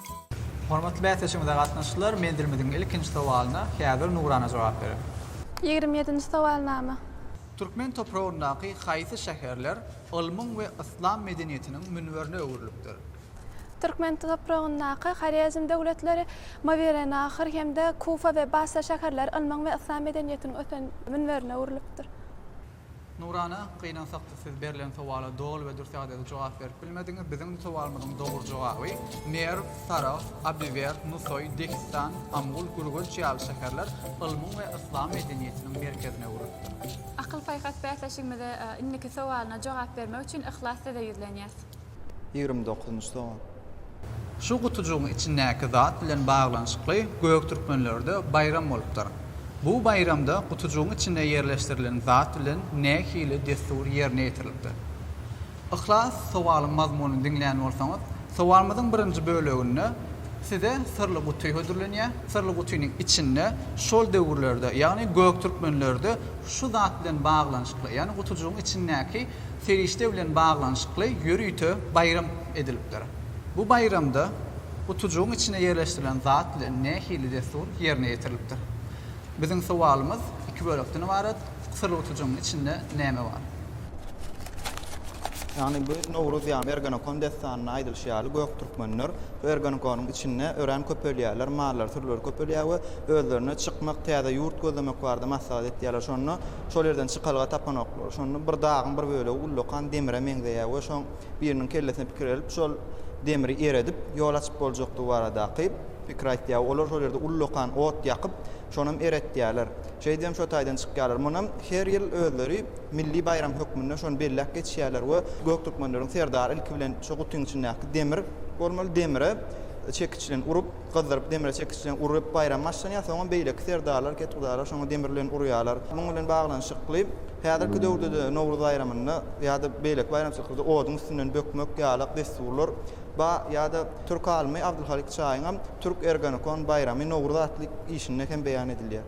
Hormatly bäsleşigimize gatnaşyjylar, menzilimiziň ilkinji sowalyna häzir Nurana jogap berer. Ýigrimi ýedinji sowalnama. Türkmen topragyndaky haýsy şäherler ylmyň we yslam medeniýetiniň münberine öwrülipdir? Türkmen topragyndaky Horezm döwletleri, Mawerennahr hem-de Kufa we Basra şäherleri ylmyň we yslam medeniýetiniň ösen münberine öwrülipdir. Nurana, gynansakda siz berlen sowala doly we dürs ýagdaýda jogap berip bilmediňiz. Biziň bu sowalymyzyň dogry jogaby, Merw, Sarahs, Abiwerd, Nusoý, Dehistan, Amul, Gürgenç ýaly şäherler ylmyň we yslam medeniýetiniň merkezine öwrülipdir. Akyl-paýhas bäsleşigimize indiki sowalyna jogap bermek üçin Yhlas size ýüzlenýäs. Ýigrimi dokuzynjy sowal. Şu gutujygyň içindäki zat bilen baglanyşykly göktürkmenlerde baýram bolupdyr. Bu baýramda gutujygyň içinde ýerleşdirilen zat bilen nähili dessur ýerine ýetirilipdir? Yhlas sowalyň mazmunyny diňlän bolsaňyz, sowalymyzyň birinji böleginde size syrly guty hödürlenýär, syrly gutynyň içinde şol döwürlerde, ýagny göktürkmenlerde şu zat bilen baglanyşykly, ýagny gutujygyň içindäki serişde bilen baglanyşykly ýörite baýram edilipdir. Bu baýramda gutujygyň içine ýerleşdirilen zat bilen nähili dessur ýerine ýetirilipdir? Biziň sowalymyz iki bölekden ybarat, Syrly gutujygyň içinde näme bar? Ýagny bu Nowruz ýa Ergenekon dessanynda aýdylyşy ýaly göktürkmenler bu Ergenekonyň içinde örän köpelýärler, mallary-sürüleri köpelýär we özlerine çykmak, täze ýurt gözlemek barada maslahat etýärler. Şonda Şol ýerden çykalga tapanoklar. Şonda bir dagyň bir bölegi ullakan demire meňzeýär we şoň biriniň kellesine pikir gelip, şol demiri eredip, ýol açyp boljakdygy baradaky pikir aýtýar. Olar şol ýerde ullakan ot ýakyp, şonam eretýärler. Şeýdibem şo taýdan çykýarlar. Munam her ýyl özleri milli baýram hökmünde şony belläp geçýärler we göktürkmenleriň serdary ilki bilen şo gutyň içindäki demir bolmaly, demire çekiç bilen urup, Gyzdyryp demire çekiş bilen urup baýram başlanýar, soňam beýleki serdarlar, ketgudarlar şoňa demir bilen urýarlar. Munuň bilen baglanyşykly häzirki döwürde-de Nowruz baýramynda ýa-da beýleki baýramçylyklarda oduň üstünden bökmek ýalak dessurlar bar ýa-da türk alymy Abdylhalik Çaýyňam Türk Ergonekon baýramy Nowruz atly işinde hem beýan edilýär.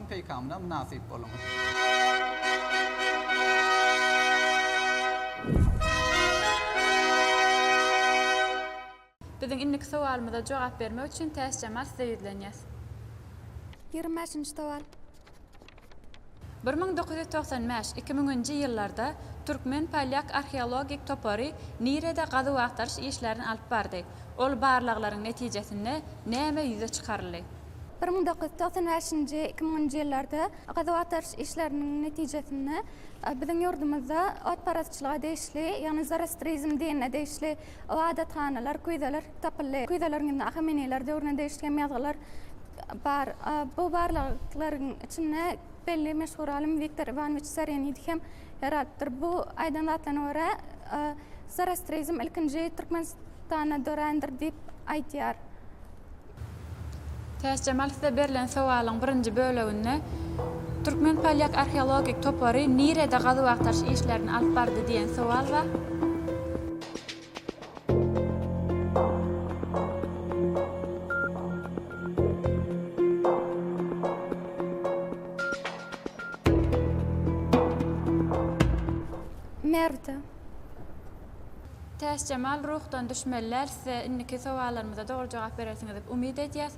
Peýkamyna mynasyp boluň! Biziň indiki sowalymyza jogap bermek üçin Täçjemal size ýüzlenýäs. Ýigrimi bäşinji sowal. Bir müň dokuz ýüz togsan bäş, iki müňünji ýyllarda türkmen-polýak arheologik topary nirede gazuw-agtaryş işlerini alyp bardy? Ol barlaglaryň netijesinde näme ýüze çykaryldy? Bir müň dokuz ýüz togsan bäşinji, iki müňünji ýyllarda gazuw-agtaryş işleriniň netijesinde biziň ýurdumyzda otparazçylyga degişli, ýagny zoroastrizm dinine degişli ybadathanalar, küýzeler tapyldy. Küýzeleriň içinde ahameniler döwrüne degişli hem ýazgylar bar. Bu barlaglaryň içinde belli meşhur alym Wiktor Iwanowiç Serenidi hem ýer alypdyr. Bu aýdan zatlaryna görä, zoroastrizm ilkinji Türkmenistanda dörändir diýip aýdýar. Täçjemal size berlen sowalyň birinji böleginde Türkmen-polýak arheologik topary nirede gazuw-agtaryş işlerini alyp bardy diýen sowal bar. Nirede? Täçjemal ruhdan düşmeliler size indiki sowallarymyza dogry jogap berersiňiz dip umyt edýäs.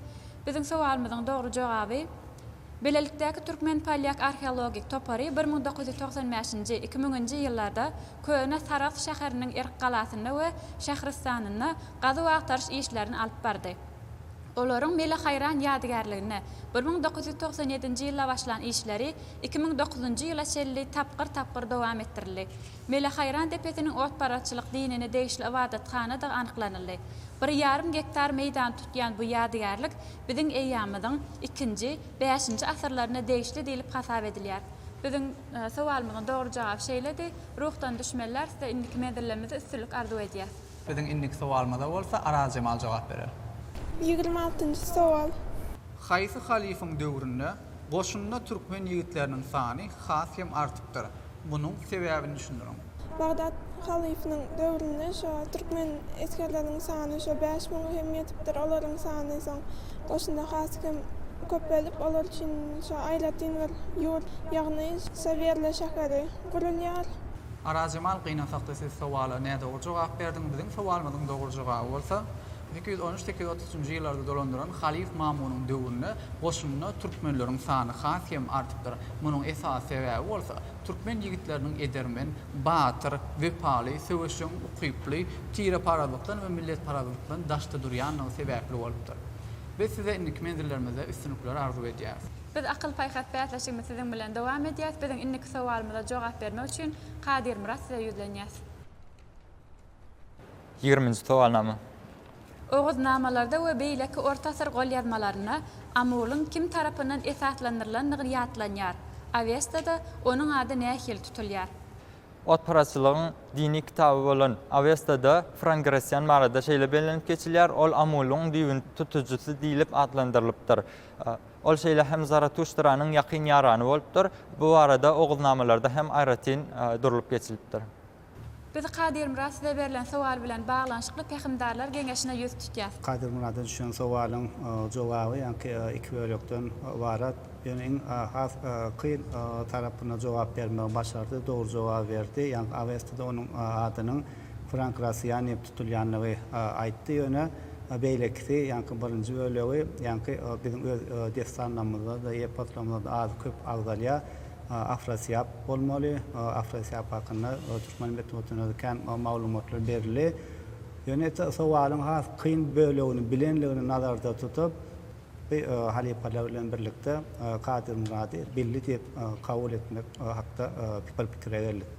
Biziň sowalymyzyň dogry jogaby Bilelikdäki türkmen-polýak arheologik topary bir müň dokuz ýüz togsan bäşinji, iki müňünji ýyllarda köne Sarahs şäheriniň Erk galasynda we Şähristanynda gazuw-agtaryş işlerini alyp bardy. Olaryň Mele Haýran ýadygärligine bir müň dokuz ýüz togsan ýedinji ýylda başlan işleri iki müň dokuzynjy ýyla çenli tapgyr-tapgyr dowam etdirildi. Mele Haýran depesiniň otparazçylyk dinine degişli ybadathanadygy anyklanyldy. Bir ýarym gektar meýdany tutýan bu ýadygärlik biziň eýýamymyzyň ikinji, bäşinji asyrlaryna degişli diýlip hasap edilýär. Biziň sowalymyzyň dogry jogaby şeýledi. Ruhdan düşmenler size indiki menzillermizde üstünlik arzuw edýäs. Biziň indiki sowalymyza bolsa Araz Jemal jogap berer. Ýigrimi altynjy sowal. Haýsy halyfyň döwründe goşunda türkmen ýigitleriniň sany has hem artypdyr? Munuň sebäbini düşündiriň. Bagdat halyfynyň döwründe şo türkmen esgerleriniň sany şo bäş müňe hem ýetipdir. Olaryň sany soň goşunda has hem köpelip, olar üçin şo aýratyn bir ýurt, ýagny Sawerle şäheri gurulýar. Arazjemal gynansak-da siz sowala nädogry jogap berdiň. Biziň sowalymyzyň dogry jogaby bolsa, sekiz ýüz on üç, sekiz ýüz otuz üçünji ýyllarda dolandyran halyf Mamunyň döwründe goşunda türkmenleriň sany has hem artypdyr. Munuň esasy sebäbi bolsa, türkmen ýigitleriniň edermen, batyr, wepaly, söweşjeň ukyply, tireparazlykdan we milletparazlykdan daşda durýanlygy sebäpli bolupdyr. Biz size indiki menzilleriňizde üstünlikleri arzuw edýäris. Biz akyl-paýhas bäsleşigimizi siziň bilen dowam edýäs. Biziň indiki sowalymyza jogap bermek üçin Kadir Myrat size ýüzlenýäs. Ýigriminji sowalnama. Oguznamalarda we beýleki orta asyr golýazmalarynda Amulyň kim tarapyndan esaslandyrylandygy ýatlanýar. Awestada onuň ady nähili tutulýar? Otparazçylygyň dini kitaby bolan Awestada Frangresýan barada şeýle bellenip geçilýär, Ol Amulyň düýbüni tutujysy diýlip atlandyrylypdyr. Ol şeýle hem Zaratuştranyň ýakyn ýarany bolupdyr. Bu barada Oguznamalarda hem aýratyn durlup geçilipdir. Biz Kadyrmyrat size berlen sowal bilen baglanyşykly Pähimdarlar geňeşine ýüz tutýas. Kadyrmyrada düşen sowalyň jogaby ýaňky iki bölekden ybarat. Ýöne iň has kyn tarapyna jogap bermegi başardy, dogry jogaby berdi. Ýaňky Awestada onuň adynyň Frank Rasiýan diýip tutulýandygy aýtdy. Ýöne beýlekisi, ýaňky birinji bölegi, ýaňky biziň öz dessanlarymyzda-da, eposlarymyzda-da az-köp agzalýar. Afrasiýap bolmaly. Afrasiýap hakynda türkmen metbugatynda kän maglumatlar berildi. Ýöne sowalyň has kyn bölegini bilenligini nazarda tutup, bi halypalar bilen birlikde Kadyrmyrady Billi diýip kabul etmek hakda pikire geldik.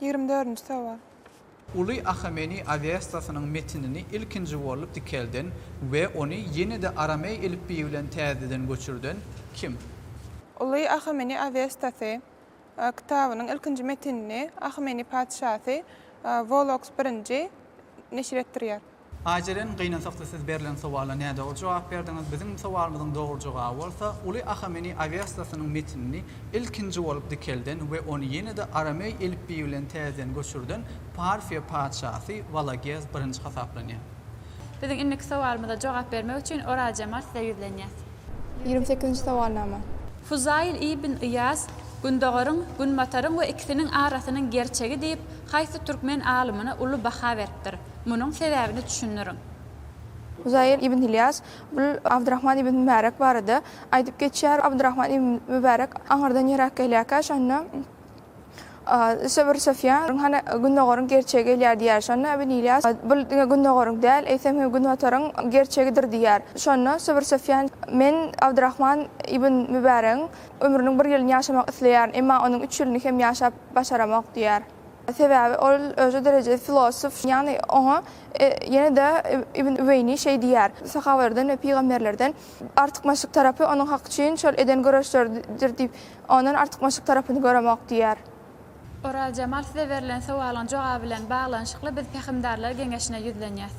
Ýigrimi dördünji sowal. Uly Ahameni Awestasynyň metinini ilkinji bolup dikelden we ony ýene-de arameý elipbiýi bilen täzeden göçürden kim? Uly Ahameni Awestasy kitabynyň ilkinji metinini Ahameni patyşasy Woloks I neşir etdirýär. Ajeren, Gynansakda siz berlen sowala nädogry jogap berdiňiz. Biziň sowalymyzyň dogry jogaby bolsa, uly Ahameni Awestasynyň metinini ilkinji bolup dikelden we ony ýene-de arameý elipbiýi bilen täzeden göçürden Parfiýa patyşasy Walagez birinji hasaplanýar. Biziň indiki sowalymyza jogap bermek üçin Orajamal size ýüzlenýär. Ýigrimi sekizinji sowalnama. Fuzaýyl ibn Yýas Gündogaryň, Günbataryň we ikisiniň arasynyň gerçegi diýip, haýsy türkmen alymyna uly baha beripdir? Munuň sebäbini düşündiriň. Huzaýyl ibn Ylýas bul Abdyrahman ibn Mübärek barada aýdyp geçýär, Abdyrahman ibn Mübärek aňyrdan ýöräp gelýärkä, şonda Söwr Sufýan, Hany, gündogaryň gerçegi gelýär diýýär. Şonda ibn Ylýas, Bul diňe gündogaryň däl, eýsem hem günbataryň gerçegidir diýýär. Şonda Söwr Sufýan, Men Abdyrahman ibn Mübäregiň ömrüniň bir ýylyny ýaşamak isleýärin, emma onuň üç ýylyny hem ýaşap başaramok diýýär. Sebäbi ol özi derejeli filosof, ýagny oňa ýene-de Ibn Üweýni şeý diýýär, Sahabalardan we pygamberlerden artykmaçlyk tarapy onuň hak üçin şol eden göreşleridir diýip, ondan artykmaçlyk tarapyny göremok diýýär. Orazjemal size berlen sowalyň jogaby bilen baglanyşykly biz Pähimdarlar geňeşine ýüzlenýäs.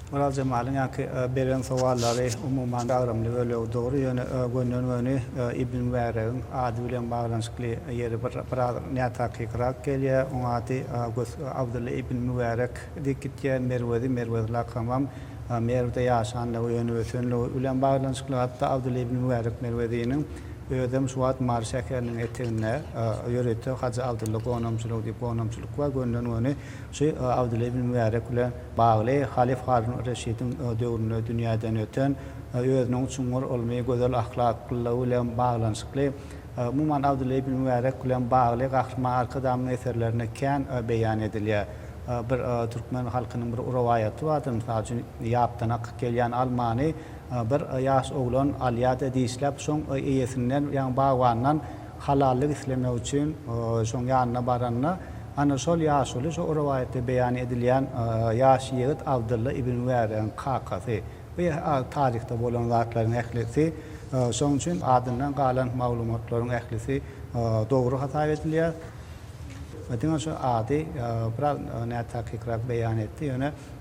Orazjemalyň ýaňky beren sowallary umuman gagramly we löw dogry, ýöne gönden-göni Ibn Mübäregiň ady bilen baglanyşykly ýeri biraz nätakykyrak gelýär. Oň ady gös Abdylla ibn Mübärek diýip gitýär. Merwezi, Merwez lakamam Merwde ýaşandygy, ýöne ösenligi bilen baglanyşykly. Hatda Abdylla ibn Mübärek Merweziniň özem şu wagt Mary şäheriniň eteginde ýörite Hajy Abdylla gonamçylygy diýip gonamçylyk bar. Gönden-göni Şu Abdylla ibn Mübärek bilen bagly halyf Harun-y Reşidiň döwründe dünýäden öten, özüniň çuňňur ylmy, gözel ahlaklylygy bilen baglanyşykly, umuman, Abdylla ibn Mübärek bilen bagly Gahryman Arkadagymyzyň eserlerinde kän beýan edilýär. Bir türkmen halkynyň bir rowaýaty bardyr, mysal üçin, Ýapdan akyp gelýän almany bir ýaş oglan alýar-da, dişläp, şoň eýesinden, ýagny bagbandan, Halallyk islemek üçin şoň ýanyna baranda, ana, şol ýaşuly, şu rowaýatda beýan edilýän ýaş ýigit Abdylla ibn Wäregiň kakasy. Bu taryhda bolan zatlaryň ählisi, şoň üçin adyndan galan maglumatlaryň ählisi dogry hasap edilýär. Diňe şu ady biraz nätakykrak beýan etdi, ýöne.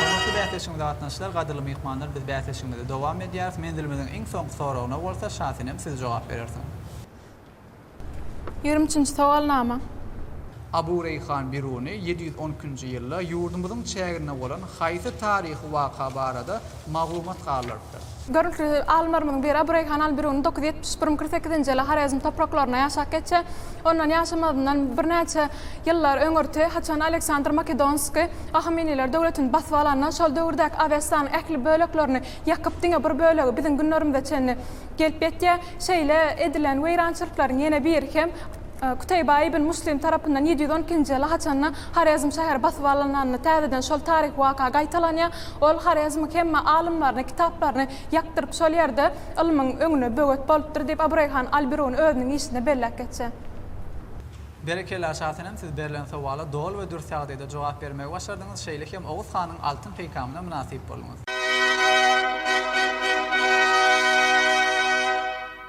Hormatly bäsleşigimize gatnaşyjylar, gadyrly myhmanlar biz bäsleşigimizi dowam edýäris. Menzilimiziň iň soňky soragyna bolsa Şasenem siz jogap berersiňiz. Ýigrimi üçünji sowalnama. Abu Reýhan Biruny ýedi ýüz on ikinji ýylda ýurdumyzyň çäginde bolan haýsy taryhy waka barada Maglumat galypdyr. Görnükli alymlarymyzyň biri Abu Reýhan al-Biruny dokuz ýüz ýetmiş bir-müň kyrk sekizinji ýyly Horezm topraklaryna ýaşap geçse, ondan ýaşamazyndan birnäçe ýyllar öňürti, haçan Aleksandr Makedonskiý Ahameniler döwletini basyp alanda, şol döwürdäki Awestanyň ähli böleklerini ýakyp, diňe bir bölegi biziň günlerimize çenli gelip ýetýär. Şeýle edilen weýrançylyklaryň ýene biri hem. Kutaýba ibn Muslim tarapyndan ýedi ýüz on ikinji ýyla haçanda Horezm şäheri basyp alynanda täzeden şol taryhy waka gaýtalanýar. Ol Horezmiň hemme alymlaryny, kitaplaryny ýakdyryp şol ýerde ylmyň öňüne böwet bolupdyr diýip Abu Reýhan al-Biruni özüniň işinde belläp geçýär. Berekella Şa Senem siz berlen sowala doly we dürs ýagdaýda jogap bermegi başardyňyz, şeýle hem Oguz hanyň altyn peýkamyna mynasyp bolduňyz.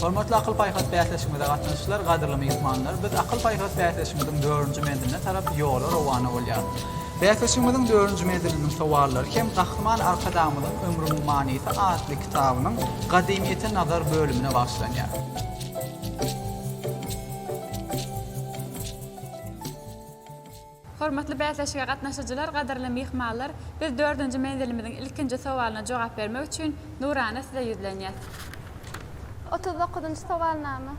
Hormatly akyl-paýhas bäsleşigimize gatnaşyjylar, gadyrly myhmanlar! Biz akyl-paýhas bäsleşigimiziň dördünji menziline tarap ýola rowana bolýarys. Bäsleşigimiziň dördünji menziliniň sowallary hem Gahryman Arkadagymyzyň Ömrümiň manysy atly kitabynyň Gadymyýete nazar bölümine bagyşlanýar. Hormatly bäsleşige gatnaşyjylar, gadyrly myhmanlar, biz dördünji menzilimiziň ilkinji sowalyna jogap bermek üçin Nurana size ýüzlenýäs. Otuz dokuzynjy sowalnama.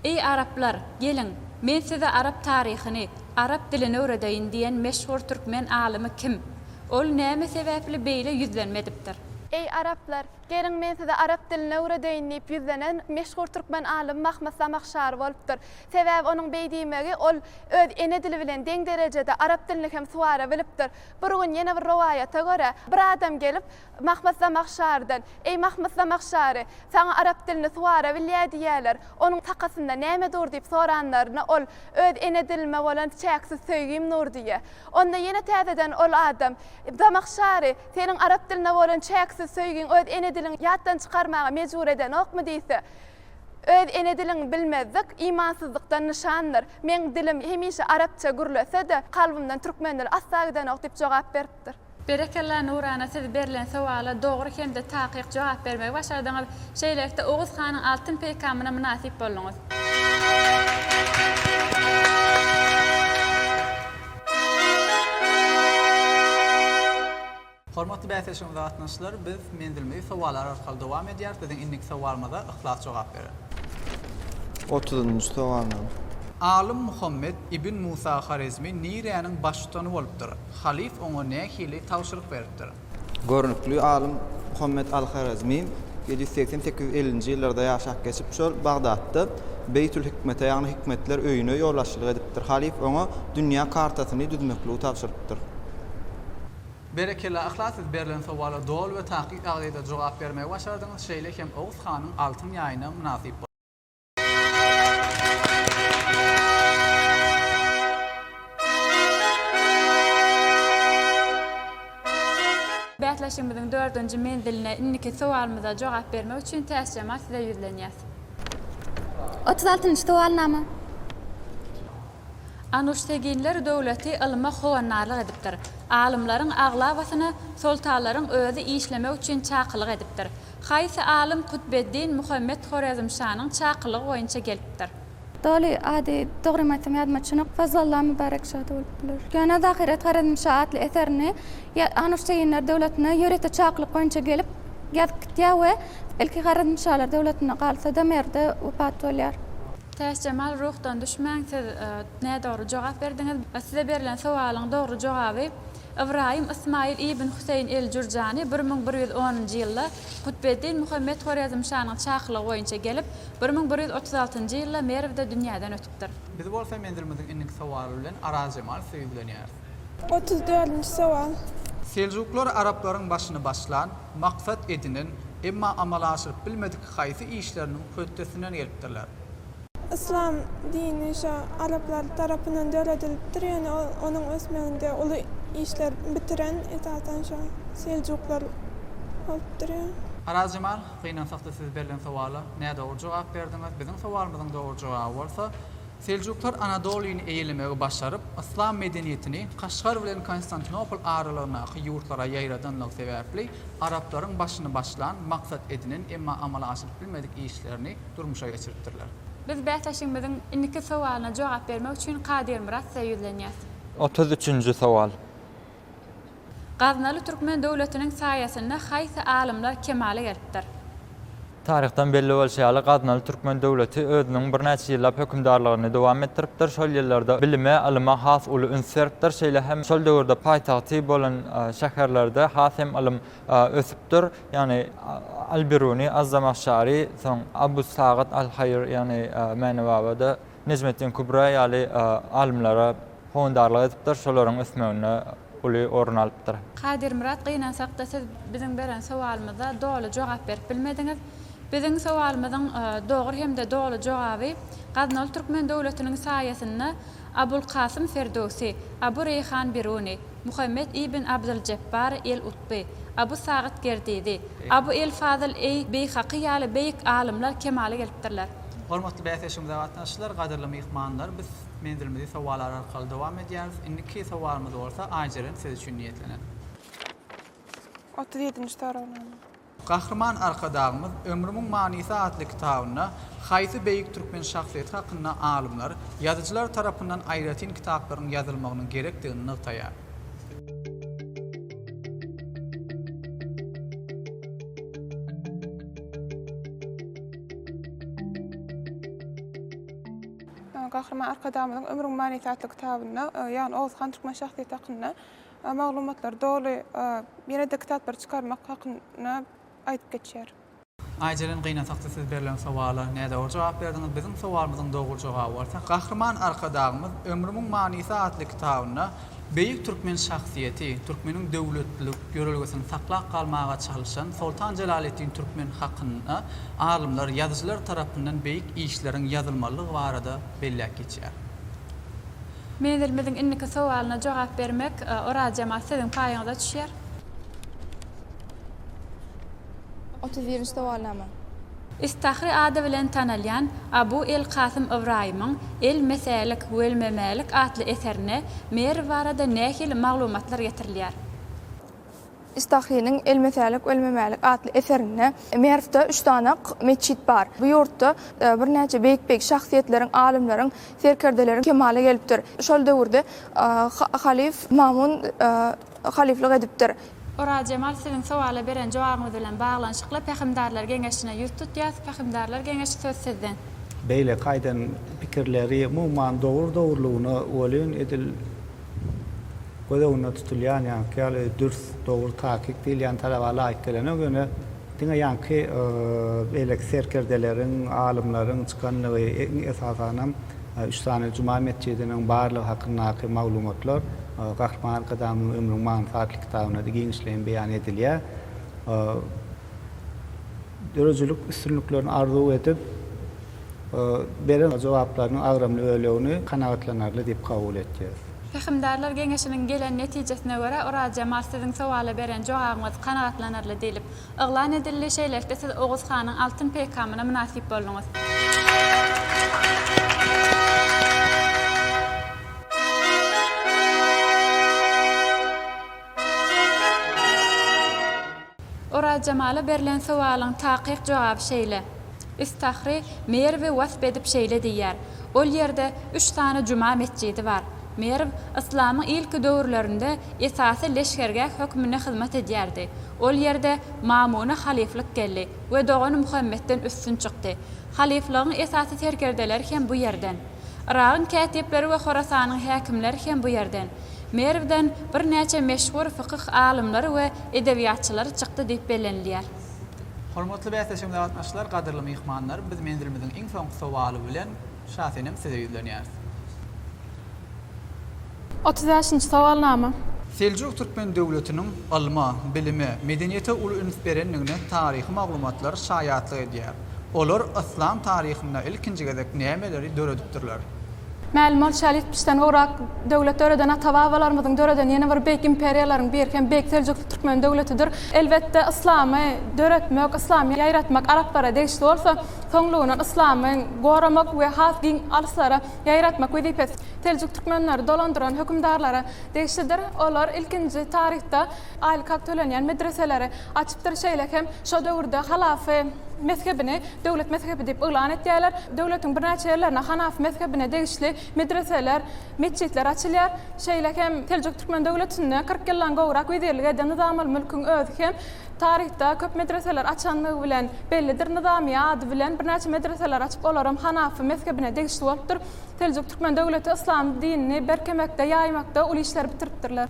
Eý araplar, geliň, men size arap taryhyny, arap dilini öwredeýin diýen meşhur türkmen alymy kim? Ol näme sebäpli beýle ýüzlenme edipdir? Eý araplar, Geliň, men size arap dilini öwredeýin diýip ýüzlenen meşhur türkmen alym Mahmyt Zamahşary bolupdyr. Sebäbi onuň beý diýmegi, ol öz ene dili bilen deň derejede arap dilini hem suwara bilipdir. Bir gün ýene bir rowaýata görä, bir adam gelip, Mahmyt Zamahşarydan, Eý, Mahmyt Zamahşary, saňa arap dilini suwara bilýär diýýärler, onuň sakasynda näme dur diýip soranlaryna, ol, Öz ene dilime bolan çäksiz söýgim dur diýýär. Onda ýene täzeden ol adam, Zamahşary, Seniň arap diline bolan çäksiz söýgiň öz ene diliňi ýatdan çykarmaga mejbur edenokmy diýse, öz ene diliňi bilmezlik imansyzlykdan nyşandyr. Meň dilim hemişe arapça gürlese-de, kalbymdan türkmen dili asla gidenok diýip jogap beripdir. Berekella Nurana siz berlen sowala dogry hemde takyk jogap bermegi başardyňyz. Şeýlelikde Oguz hanyň altyn peýkamyna mynasyp bolduňyz. Hormatly bäsleşigiň zatnaşyjylary biz menzilimizi sowallar arkaly dowam edýäris. Biziň indiki sowalymyza Yhlas jogap berer. Otuzynjy sowal name? Alym Muhammet ibn Musa Horezmi niräniň baştutany bolupdyr? Halyf oňa nähili tabşyryk beripdir? Görnükli alym Muhammet al-Horezmi ýedi ýüz segsen sekiz ellinji ýyllarda ýaşap geçip, şol Bagdatda Beýtül-Hikmete, ýagny Hikmetler öýüne ýolbaşçylyk edipdir. Halyf oňa dünýä kartasyny düzmekligi tabşyrypdyr. Berekella yhlas siz berlen sowala doly we takyk agzeda jogap bermegi başardyňyz şeýle hem oguz hanyň altyn ýaýyna mynasyp boldy. Bäsleşigimiziň dördünji menziline indiki sowalymyza jogap bermek üçin täş jamal size ýüzlenýäs. Otuz altynjy sowalnama. Anuşteginler döwleti ylma howandarlyk edipdir. Alymlaryň aglabasyna soltanlaryň özi işlemek üçin çakylyk edipdir. Haýsy alym Kutbeddin Muhammet Horezmşanyň çakylygy boýunça gelipdir? Doly, ady, dogrymy aýtsam ýadyma düşenok, Fazlalla Mübärek şa-da bolup biler. Ýöne Zahyret Horezmşa atly eserini Anuşteýinler döwletine ýörite çakylyk boýunça gelip, ýazyp gitýär we ilki Horezmşalar döwletinde galsa-da, Merwde wepat bolýar. Täçjemal ruhdan düşmäň, siz nädogry jogap berdiňiz. Size berlen sowalyň dogry jogaby. Ybraýym Ysmaýyl ibn Hüseýin el-Jürjany bir müň bir ýüz onunjy ýylda Kutbeddin Muhammet Horezmşanyň çakylygy boýunça gelip, bir müň bir ýüz otuz altynjy ýylda Merwde dünýäden ötüpdir. Biz bolsa menzilimiziň indiki sowaly bilen Arazjemal size ýüzlenýäris. Otuz dördünji sowal. Seljuklar araplaryň başyny başlan, maksat edinen, emma amala aşyryp bilmedik haýsy işleriniň hötdesinden gelipdirler? Yslam dini şo araplar tarapyndan döredilipdir, ýöne ol onuň ösmeginde uly işler bitiren esasan şo seljuklar bolup durýar. Arazjemal, gynansakda siz berlen sowala nädogry jogap berdiňiz. Biziň sowalymyzyň dogry jogaby bolsa, Seljuklar Anadolyny eýelemegi başaryp, yslam medeniýetini Kaşgar bilen Konstantinopol aralygyndaky ýurtlara ýaýradanlygy sebäpli araplaryň başyny başlan, maksat edinen, emma amala aşyryp bilmedik işlerini durmuşa geçiripdirler. Biz bäsleşigimiziň indiki sowalyna jogap bermek üçin Kadyrmyrat size ýüzlenýäs. Otuz üçünji sowal. Gaznaly türkmen döwletiniň saýasynda haýsy alymlar kemala gelipdir? Taryhdan belli bolşy ýaly, Gaznaly türkmen döwleti özüniň birnäçe ýyllap hökümdarlygyny dowam etdiripdir. Şol ýyllarda bilime, ylyma has uly üns beripdir. Şeýle hem şol döwürde paýtagty bolan şäherlerde has hem ylym ösüpdir. Ýagny Al-Biruny, Az-Zamahşary, soň Abu Sagat Al-Haýr, ýagny Mäne baba-da Nejmeddin Kubra ýaly alymlara howandarlyk edipdir, şolaryň ösmeginde uly orun alypdyr. Kadyrmyrat, gynansakda siz biziň beren sowalymyza doly jogap berip bilmediňiz. Biziň sowalymyzyň dogry hem-de doly jogaby Gaznaly Türkmen döwletiniň saýasynda Abulkasym Ferdöwsi, Abu Reýhan Biruny, Muhammet ibn Abdyljepbar el-Utby, Abu Sagyt Gerdizi, Abu el-Fazyl eý-Beýhaky ýaly beýik alymlar kemala gelipdirler. Hormatly bäsleşigimize gatnaşyjylar, gadyrly myhmanlar! Biz menzilimizi sowalar arkaly dowam edýäris. Indiki sowalymyz bolsa Aýjeren siz üçin niýetlenen. Otuz ýedinji soragnama. Gahryman Arkadagymyz Ömrümiň manysy atly kitabynda haýsy beýik türkmen şahsyýeti hakynda alymlar, ýazyjylar tarapyndan aýratyn kitaplaryň ýazylmagynyň gerekdigini nygtaýar. Gahryman Arkadagymyzyň Ömrüň manysy atly kitabynda, ýagny Oguz han türkmen şahsyýeti hakynda Maglumatlar doly ýene-de kitaplary çykarmak hakynda aýdyp geçýär. Aýjeren gynasakçy siz berlen sowala nädogry jogap berdiňiz, biziň sowalymyzyň dogry jogaby bolsa Gahryman Arkadagymyz Ömrümiň manysy atly kitabynda beýik türkmen şahsyýeti, türkmeniň döwletlilik ýörelgesini saklap galmaga çalyşan Soltan Jelaleddin Türkmen hakynda alymlar, ýazyjylar tarapyndan beýik işleriň ýazylmalydygy barada belläp geçýär. Menzilimiziň indiki sowalyna jogap bermek Oraz jemaat siziň paýyňyza düşýär. Otuz birinji sowalnama. Istahry ady bilen tanalýan Abu el-Kasym Ybraýymyň El-Mesälik wel-Memälik atly eserinde Merw barada nähili maglumatlar getirilýär? Istahynyň Elmesälik, ölmemälik atly eserinde, Merwde üç sany-ak metjit bar. Bu ýurtda birnäçe beýik-beýik şahsyýetleriň, alymlaryň, serkerdeleriň kemala gelipdir. Şol döwürde halyf Mamun halyflyk edipdir. Orazjemal siziň sowala beren jogabyňyz bilen baglanyşykly Pähimdarlar geňeşine ýüz tutýas, Pähimdarlar geňeşi söz sizden. Beýleki aýdan pikirleri umuman dogry dogrulygyna welin edil. Göz öňünde tutulýan ýaňky ýaly dürs, dogry, takyk diýilýän talaba laýyk gelenok, ýöne diňe ýaňky beýleki serkerdeleriň, alymlaryň çykanlygy, iň esasanam üç sany juma metjidiniň barlygy hakyndaky maglumatlar Gahryman Arkadagymyzyň Ömrüň manysy atly kitabynda-da giňişleýin beýan edilýär. Döredijilik üstünliklerini arzuw edip. beren jogaplarynyň agramly bölegini kanagatlanarly diýip kabul etýäris. Pähimdarlar geňeşiniň gelen netijesine görä, Orazjemal siziň sowala beren jogabyňyz kanagatlanarly diýlip, yglan edildi, şeýlelikde siz Oguz hanyň altyn peýkamyna mynasyp bolduňyz. Orazjemala berlen sowalyň takyk jogaby şeýle, Üstahry Merwi wasp edip şeýle diýýär, Ol ýerde üç sany juma metjidi bar. Merw yslamyň ilki döwürlerinde esasy leşgergäh hökmünde hyzmat edýärdi. Ol ýerde Mamuna halyflyk geldi we dogany Muhammetden üstün çykdy. Halyflygyň esasy serkerdeleri hem bu ýerden. Yragyň kätipleri we Horasanyň häkimleri hem bu ýerden. Merwden birnäçe meşhur fykyh alymlary we edebiýatçylary çykdy diýip bellenilýär. Hormatly bäsleşigimize gatnaşyjylar, gadyrly myhmanlar, biz menzilimiziň iň soňky sowaly bilen Şasenem size ýüzlenýäris. Otuz bäşinji sowalnama. Seljuk Türkmen döwletiniň ylma, bilime, medeniýete uly üns berendigine taryhy maglumatlar şaýatlyk edýär. Olar yslam taryhynda ilkinji gezek nämeleri döredipdirler? Mälim bolşy ýaly, ýetmişden gowrak döwlet döreden ata-babalarymyzyň döreden ýene bir beýik imperiýalaryň biri hem Beýik Seljuk Türkmen döwletidir. Elbetde, yslamy döretmek, yslamy ýaýratmak araplara degişli bolsa, soňlugyna yslamy goramak we has giň alyslara ýaýratmak wezipesi Seljuk Türkmenleri dolandyran hökümdarlara degişlidir. Olar ilkinji taryhda aýlyk hak tölenýän medreseleri Açypdyr. Şeýle hem şo döwürde Halafi mezhebini döwlet mezhebi diýip yglan etýärler. Döwletiň birnäçe ýerlerinde Hanafi mezhebine degişli medreseler, metjitler açylýar. Şeýle hem Seljuk Türkmen döwletinde kyrk ýyldan gowrak wezirlik eden Nyzam al-Mülküň özi hem taryhda köp medreseler açandygy bilen bellidir. Nyzamyýe ady bilen birnäçe medreseler açyp, olaram Hanafi mezhebine degişli bolupdyr. Seljuk Türkmen döwleti yslam dinini berkemekde, ýaýmakda uly işleri bitiripdirler.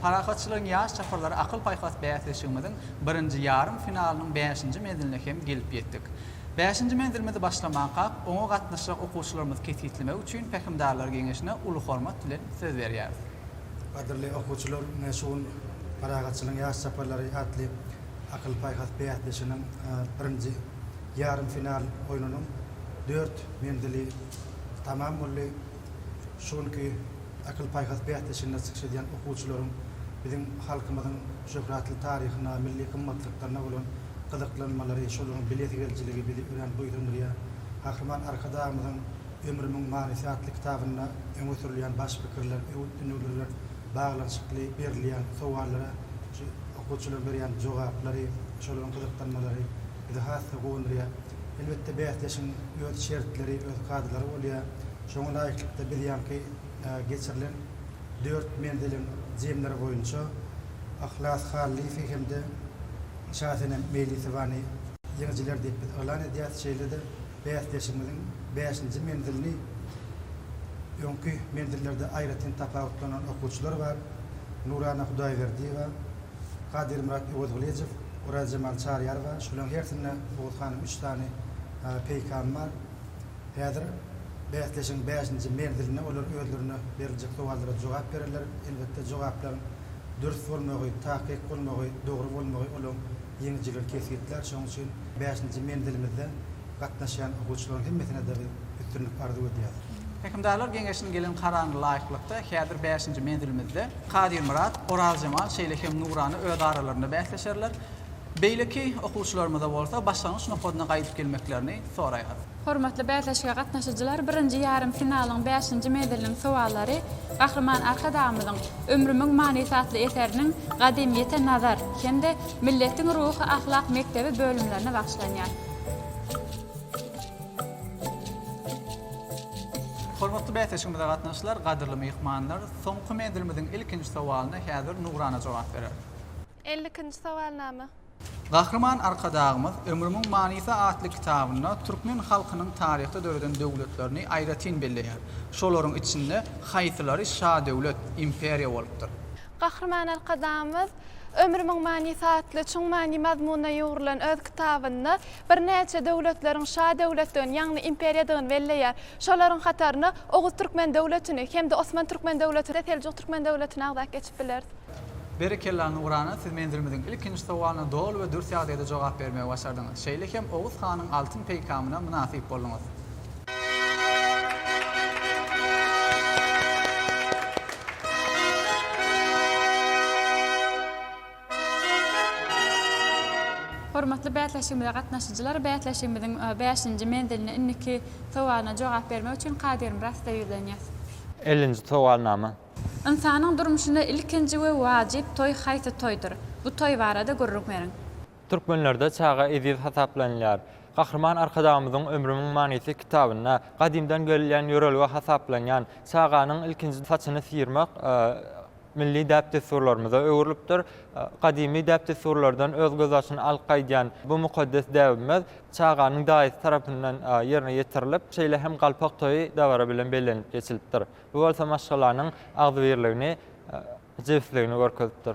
Parahatçylygyň ýaş çapyrlary akyl-paýhas bäsleşigimiziň birinji ýarym finalynyň bäşinji menziline hem gelip ýetdik. Bäşinji menzilimizi başlamankak, oňa gatnaşjak okuwçylarymyzy kesgitlemek üçin Pähimdarlar geňeşine uly hormat bilen söz berýäris. Gadyrly okuwçylar, ine şu gün Parahatçylygyň ýaş çapyrlary atly akyl-paýhas bäsleşiginiň birinji ýarym final oýnunyň dört menzili tamam boldy. şu günki akyl-paýhas bäsleşiginde çykyş edýän okuwçylaryň biziň halkymyzyň şöhratly taryhyna, milli gymmatlyklaryna bolan gyzyklanmalary, şolaryň bilesigelijiligi bizi örän buýsandyrýar. Gahryman Arkadagymyzyň Ömrümiň manysy atly kitabynda öňe sürülýän baş pikirler, öwüt-ündewnler bilen baglanyşykly berilýän sowallara şu okuwçylaryň berýän jogaplary, şolaryň gyzyklanmalary bizi has-da guwandyrýar. Elbetde, bäsleşigiň öz şertleri, öz kadalary bolýar. Şoňa laýyklykda, biz ýaňky geçirilen dört menziliň jemleri boýunça Yhlas Hallyýewi hem-de Şasenem Meýlisowany ýeňijiler diýip biz yglan edýäris. Şeýle-de bäsleşigimiziň bäşinji menzilini öňki menzillerde aýratyn tapawutlanan okuwçylar bar, Nurana Hudaýberdiýewa, Gadyrmyrat Öwezgylyjow, Orazjemal Çaryýarowa, şolaryň hersinde Oguz hanyň üç sany peýkamy bar. Häzir bäsleşigiň bäşinji menzilinde olar özlerine beriljek sowallara jogap bererler. Elbetde, jogaplaryň dürs bolmagy, takyk bolmagy, dogry bolmagy olaryň ýeňijiligini kesgitlär. Şonuň üçin bäşinji menzilimizde gatnaşýan okuwçylaryň hemmesine-de biz üstünlik arzuw edýäris. Hökümdarlar geňeşiniň gelen karyna laýyklykda, häzir bäşinji menzilimizde. Kadyrmyrat, Orazjemal şeýle hem Nurana öz aralarynda bäsleşerler. Beýleki okuwçylarymyza bolsa başlangyç nokadyna gaýdyp gelmeklerini soraýarys. Hormatly bäsleşige gatnaşyjylar, birinji ýarym finalyň bäşinji menziliniň sowallary Gahryman Arkadagymyzyň Ömrümiň manysy atly eseriniň Gadymyýete nazar hem-de Milletiň ruhy-ahlak mekdebi bölümlerine bagyşlanýar. Hormatly bäsleşigimize gatnaşyjylar, gadyrly myhmanlar! Soňky menzilimiziň ilkinji sowalyna häzir Nugrana jogap berer. Elli ikinji sowalnama. Gahryman Arkadagymyz Ömrümiň manysy atly kitabynda türkmen halkynyň taryhda döreden döwletlerini aýratyn belleýär. Şolaryň içinde haýsylary şadöwlet, imperiýa bolupdyr? Gahryman Arkadagymyz Ömrümiň manysy atly çuň many-mazmuna ýugrulan öz kitabynda birnäçe döwletleriň şa döwletdigini, ýagny imperiýadygyny belleýär. Şolaryň hataryna Oguz Türkmen döwletini hem-de Osman Türkmen döwletini we Seljuk Türkmen döwletini agzap geçip bileris. Berekella Nurana siz menzilimiziň ilkinji sowalyna doly we dürs ýagdaýda jogap bermegi başardyňyz. Şeýle hem Oguz hanyň altyn peýkamyna mynasyp bolduňyz. Hormatly bäsleşigimize gatnaşyjylar, bäsleşigimiziň bäşinji menziline indiki sowalyna jogap bermek üçin Kadyrmyrat size ýüzlenýäs. Ellinji sowalnama. Ynsanyň durmuşynda ilkinji we wajyp toý haýsy toýdur? Bu toý barada gürrüň beriň. Türkmenlerde çaga eziz hasaplanylýar. Gahryman Arkadagymyzyň Ömrümiň manysy kitabynda gadymdan gelýän ýörelge hasaplanýan çaganyň ilkinji saçyny syrmak, milli däp-dessurlarymyza öwrülipdir. Gadymy däp-dessurlardan öz gözbaşyny alyp gaýdýan bu mukaddes däbimiz çaganyň daýysy tarapyndan ýerine ýetirilip, şeýle hem galpak toýy dabara bilen bellenilip geçilipdir. Bu bolsa maşgalanyň agzybirligini, jebisligini görkezipdir.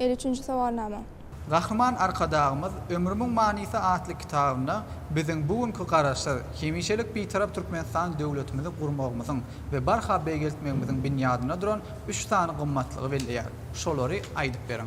Elli üçünji sowalnama. Gahryman Arkadagymyz Ömrümiň manysy atly kitabynda biziň bu günki Garaşsyz, hemişelik Bitarap Türkmenistan döwletimizi gurmagymyzyň we barha beýgeltmegimiziň binýadynda duran üç sany gymmatlygy belleýär. Şolary aýdyp beriň.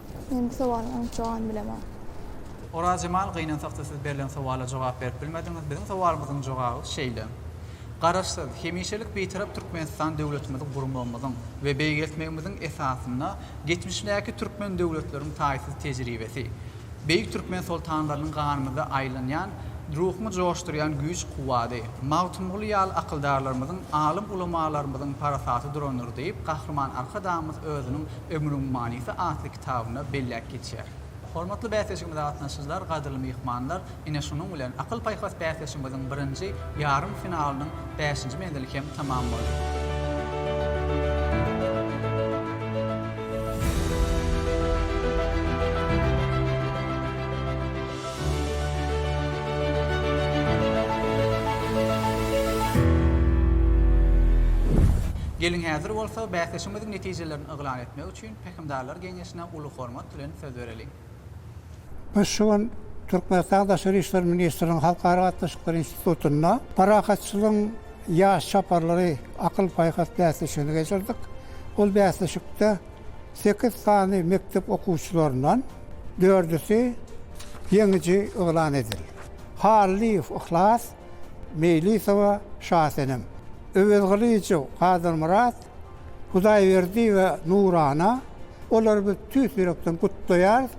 Men bu sowalyň anyk jogabyny bilemok. Orazjemal gynansakda siz berlen sowala jogap berip bilmediňiz. Biziň sowalymyzyň jogaby şeýle. Garaşsyz, hemişelik Bitarap Türkmenistan döwletimizi gurmagymyzyň we beýgeltmegimiziň esasynda geçmişdäki türkmen döwletleriň taýsyz tejribesi, beýik türkmen soltanlarynyň ganymyzda aýlanýan, ruhumy joşdurýan güýç-kuwwady, Magtymguly ýaly akyldarlarymyzyň, alym-ulamalarymyzyň parasaty durandyr diýip, Gahryman Arkadagymyz özüniň Ömrüň manysy atly kitabynda belläp geçýär. Hormatly bäsleşigimize gatnaşyjylar, gadyrly myhmanlar, ine şunuň bilen Akyl-paýhas bäsleşigimiziň birinji ýarym finalynyň bäşinji menzili hem tamam boldy. netijelerni yglan etmek üçin Pähimdarlar geňeşine uly hormat bilen söz bereliň. Biz şu gün Türkmenistanyň Daşary işler ministriniň Halkara gatnaşyklary institutynda Parahatçylygyň ýaş çaparlary akyl-paýhas bäsleşigini geçirdik. Ol bäsleşikde sekiz sany mekdep okuwçylaryndan dördüsi ýeňiji yglan edildi. Hallyýew Yhlas, Meýlisowa Şasenem, Öwezgylyjow Gadyrmyrat, Hudaýberdi we Nurana olary biz tüýs ýürekden gutlaýarys.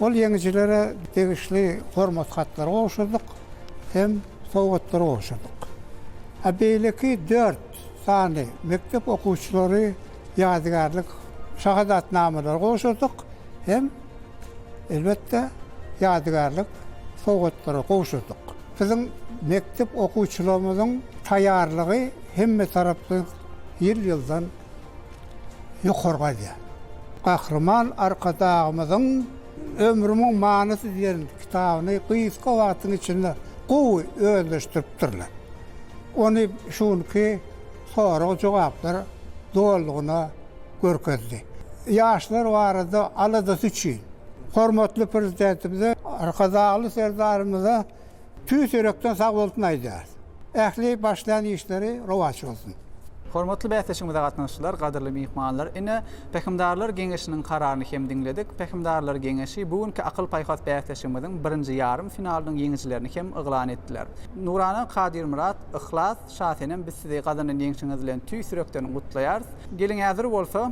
Ol ýeňijilere degişli hormat hatlary gowşurdyk hem sowgatlary gowşurdyk. A beýleki dört sany mekdep okuwçylary ýadygärlik şahadatnamalary gowşurdyk hem elbetde ýadygärlik sowgatlary gowşurdyk. Biziň mekdep okuwçylarymyzyň taýýarlygy, hemmetaraplaýyn ýyl-ýyldan ýokargaýdýar. Gahryman Arkadagymyzyň Ömrümiň manysy diýen kitabyny gysga wagtyň içinde gowy özleşdiripdirler. Ony şu günki sorag-jogaplar dolugyna görkezdi. Ýaşlar barada aladasy üçin Hormatly Prezidentimize, Arkadagly Serdarymyza Tüýs ýürekden sag bolsun aýdýarys. Ähli başlan işleri rowaç bolsun. Hormatly bäsleşigimize gatnaşyjylar, gadyrly myhmanlar! Ine, Pähimdarlar geňeşiniň kararyny hem diňledik. Pähimdarlar geňeşi bu günki akyl-paýhas bäsleşigimiziň birinji ýarym finalynyň ýeňijilerini hem yglan etdiler. Nurana, Kadyrmyrat, Yhlas, Şasenem biz sizi gazanan ýeňşiňiz bilen tüýs ýürekden gutlaýarys. Geliň häzir bolsa,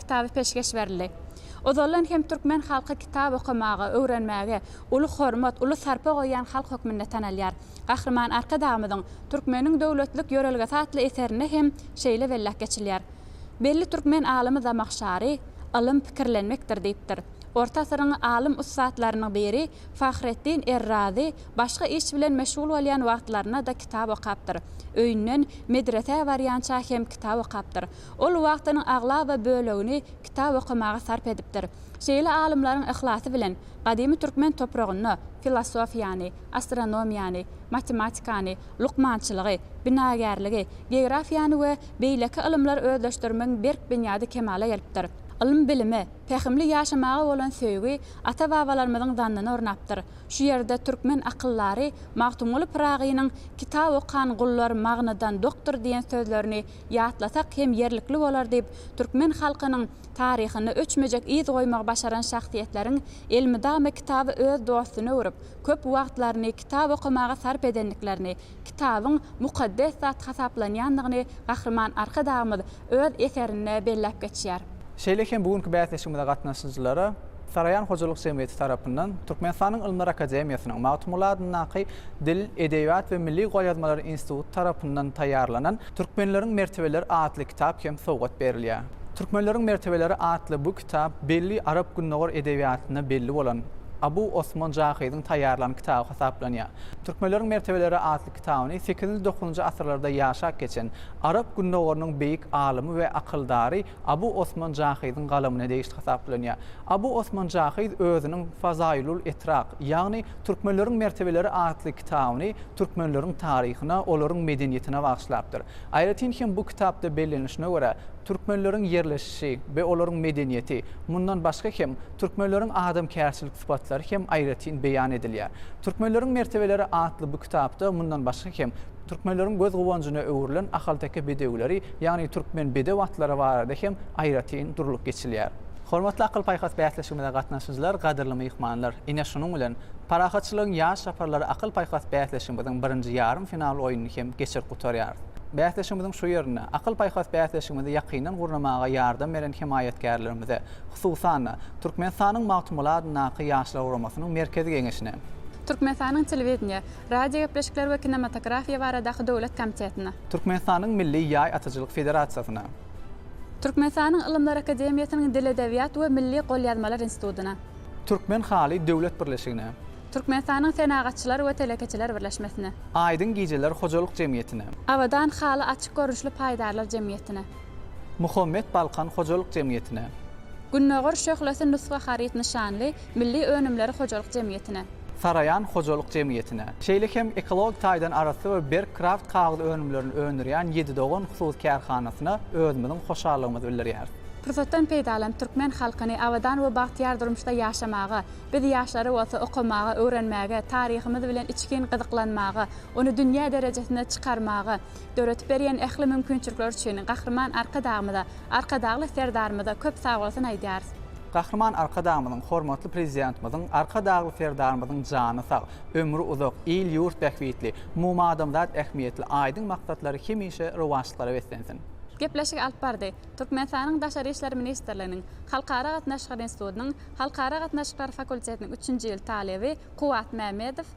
kitaby peşgeş berildi. Ozaldan hem türkmen halky kitap okamaga, öwrenmäge uly hormat, uly sarpa goýýan halk hökmünde tanalýar. Gahryman Arkadagymyzyň Türkmeniň döwletlilik ýörelgesi atly eserinde hem şeýle belläp geçilýär. Belli türkmen alymy Zamahşary, Ylym pikirlenmekdir diýipdir. Orta asyryň alym-ussatlarynyň biri Fahreddin Er-Razy başga iş bilen meşgul bolýan wagtlarynda-da kitap okapdyr. Öýünden medresä barýança hem kitap okapdyr. Ol wagtynyň aglaba bölegini kitap okamaga sarp edipdir. Şeýle alymlaryň yhlasy bilen gadymy türkmen topragynda filosofiýany, astronomiýany, matematikany, lukmançylygy, binagärligi, geografiýany we beýleki ylymlary özleşdirmegiň berk binýady kemala gelipdir. Ylym-bilime, pähimli ýaşamaga bolan söýgi ata-babalarymyzyň zannyny ornapdyr. Şu ýerde türkmen akyldary Magtymguly Pyragynyň Kitap okan gullar magnydan dokdur diýen sözlerini ýatlasak hem ýerlikli bolar diýip, türkmen halkynyň taryhynda öçmejek yz goýmagy başaran şahsyýetleriň elmydama kitaby öz dostuna öwrüp, köp wagtlaryny kitap okamaga sarp edendiklerini, kitabyň mukaddes zat hasaplanýandygyny Gahryman Arkadagymyz öz eserinde belläp geçýär. Şeýle hem bu günki bäsleşigimize gatnaşyjylara Saraýan hojalyk jemgyýeti tarapyndan Türkmenistanyň Ylymlar akademiýasynyň Magtymguly adyndaky Dil, edebiýat we milli golýazmalar instituty tarapyndan taýýarlanan Türkmenleriň mertebeleri atly kitap hem sowgat berilýär. Türkmenleriň mertebeleri atly bu kitap belli arap-gündogar edebiýatynda belli bolan Abu Osman Jahyzyň taýýarlan kitaby hasaplanýar. Türkmenleriň mertebeleri atly kitabyny sekizinji-dokuzynjy asyrlarda ýaşap geçen arap gündogarynyň beýik alymy we akyldary Abu Osman Jahyzyň galamyna degişli hasaplanýar. Abu Osman Jahyz özüniň Fazaýylul Etrak, ýagny Türkmenleriň mertebeleri atly kitabyny türkmenleriň taryhyna, olaryň medeniýetine bagyşlapdyr. Aýratyn hem bu kitapda bellenilişine görä, türkmenleriň ýerleşişi we olaryň medeniýeti, mundan başga hem, türkmenleriň adamkärçilik sypatlary hem aýratyn beýan edilýär. Türkmenleriň mertebeleri atly bu kitapda, mundan başga hem, Türkmenleriň göz guwanjyna öwrülen ahalteke bedewileri, ýagny türkmen bedew atlary barada hem aýratyn durlup geçilýär. Hormatly akyl-paýhas bäsleşigimize gatnaşyjylar, gadyrly myhmanlar! Ine, şunuň bilen, Parahatçylygyň ýaş çaparlary akyl-paýhas bäsleşigimiziň birinji ýarym final oýnuny hem geçirip gutarýarys. Bäsleşigimiziň şu ýerinde, akyl-paýhas bäsleşigimizi ýakyndan gurnamaga ýardam beren hemaýatkärlerimize, hususan-da, Türkmenistanyň Magtymguly adyndaky Ýaşlar guramasynyň Merkezi Geňeşine, Türkmenistanyň Telewideniýe. Radiogepleşikler we kinematografiýa baradaky döwlet komitetine. Türkmenistanyň Milli ýaý atyjylyk federasiýasyna. Türkmenistanyň Ylymlar akademiýasynyň Dil-edebiýat we milli golýazmalar institutyna. Türkmen haly döwlet birleşigine. Türkmenistanyň Senagatçylar we telekeçiler birleşmesine. Aýdyň gijeler hojalyk jemgyýetine. Abadan haly açyk görnüşli paýdarlar jemgyýetine. Muhammet Balkan hojalyk jemgyýetine. Gündogar şöhlesi nusga haryt nyşanly milli önümleri hojalyk jemgyýetine. Saraýan hojalyk jemgyýetine. Şeýle hem ekologik taýdan arassa we berk kraft kagyz önümlerini öndürýän Ýedi dogan hususy kärhanasyna özümiziň hoşallygymyzy bildirýäris. Pursatdan peýdalanyp türkmen halkyny abadan we bagtyýar durmuşda ýaşamaga, biz ýaşlary bolsa okamaga, öwrenmäge, taryhymyz bilen içgin gyzyklanmaga, ony dünýä derejesine çykarmaga, döredip berýän ähli mümkinçilikler üçin Gahryman Arkadagymyza, Arkadagly Serdarymyza köp sagbolsun aýdýarys. Gahryman Arkadagymyzyň, hormatly Prezidentimiziň, Arkadagly Serdarymyzyň jany sag, ömri uzak, il-ýurt bähbitli, umumadamzat ähmiýetli aýdyň maksatlary hemişe rowaçlyklara beslensin! Gepleşigi alyp bardy. Türkmenistanyň Daşary işler ministrliginiň Halkara gatnaşyklary institutynyň Halkara gatnaşyklary fakultetiniň üçünji ýyl talyby Kuwwat Mämmedow,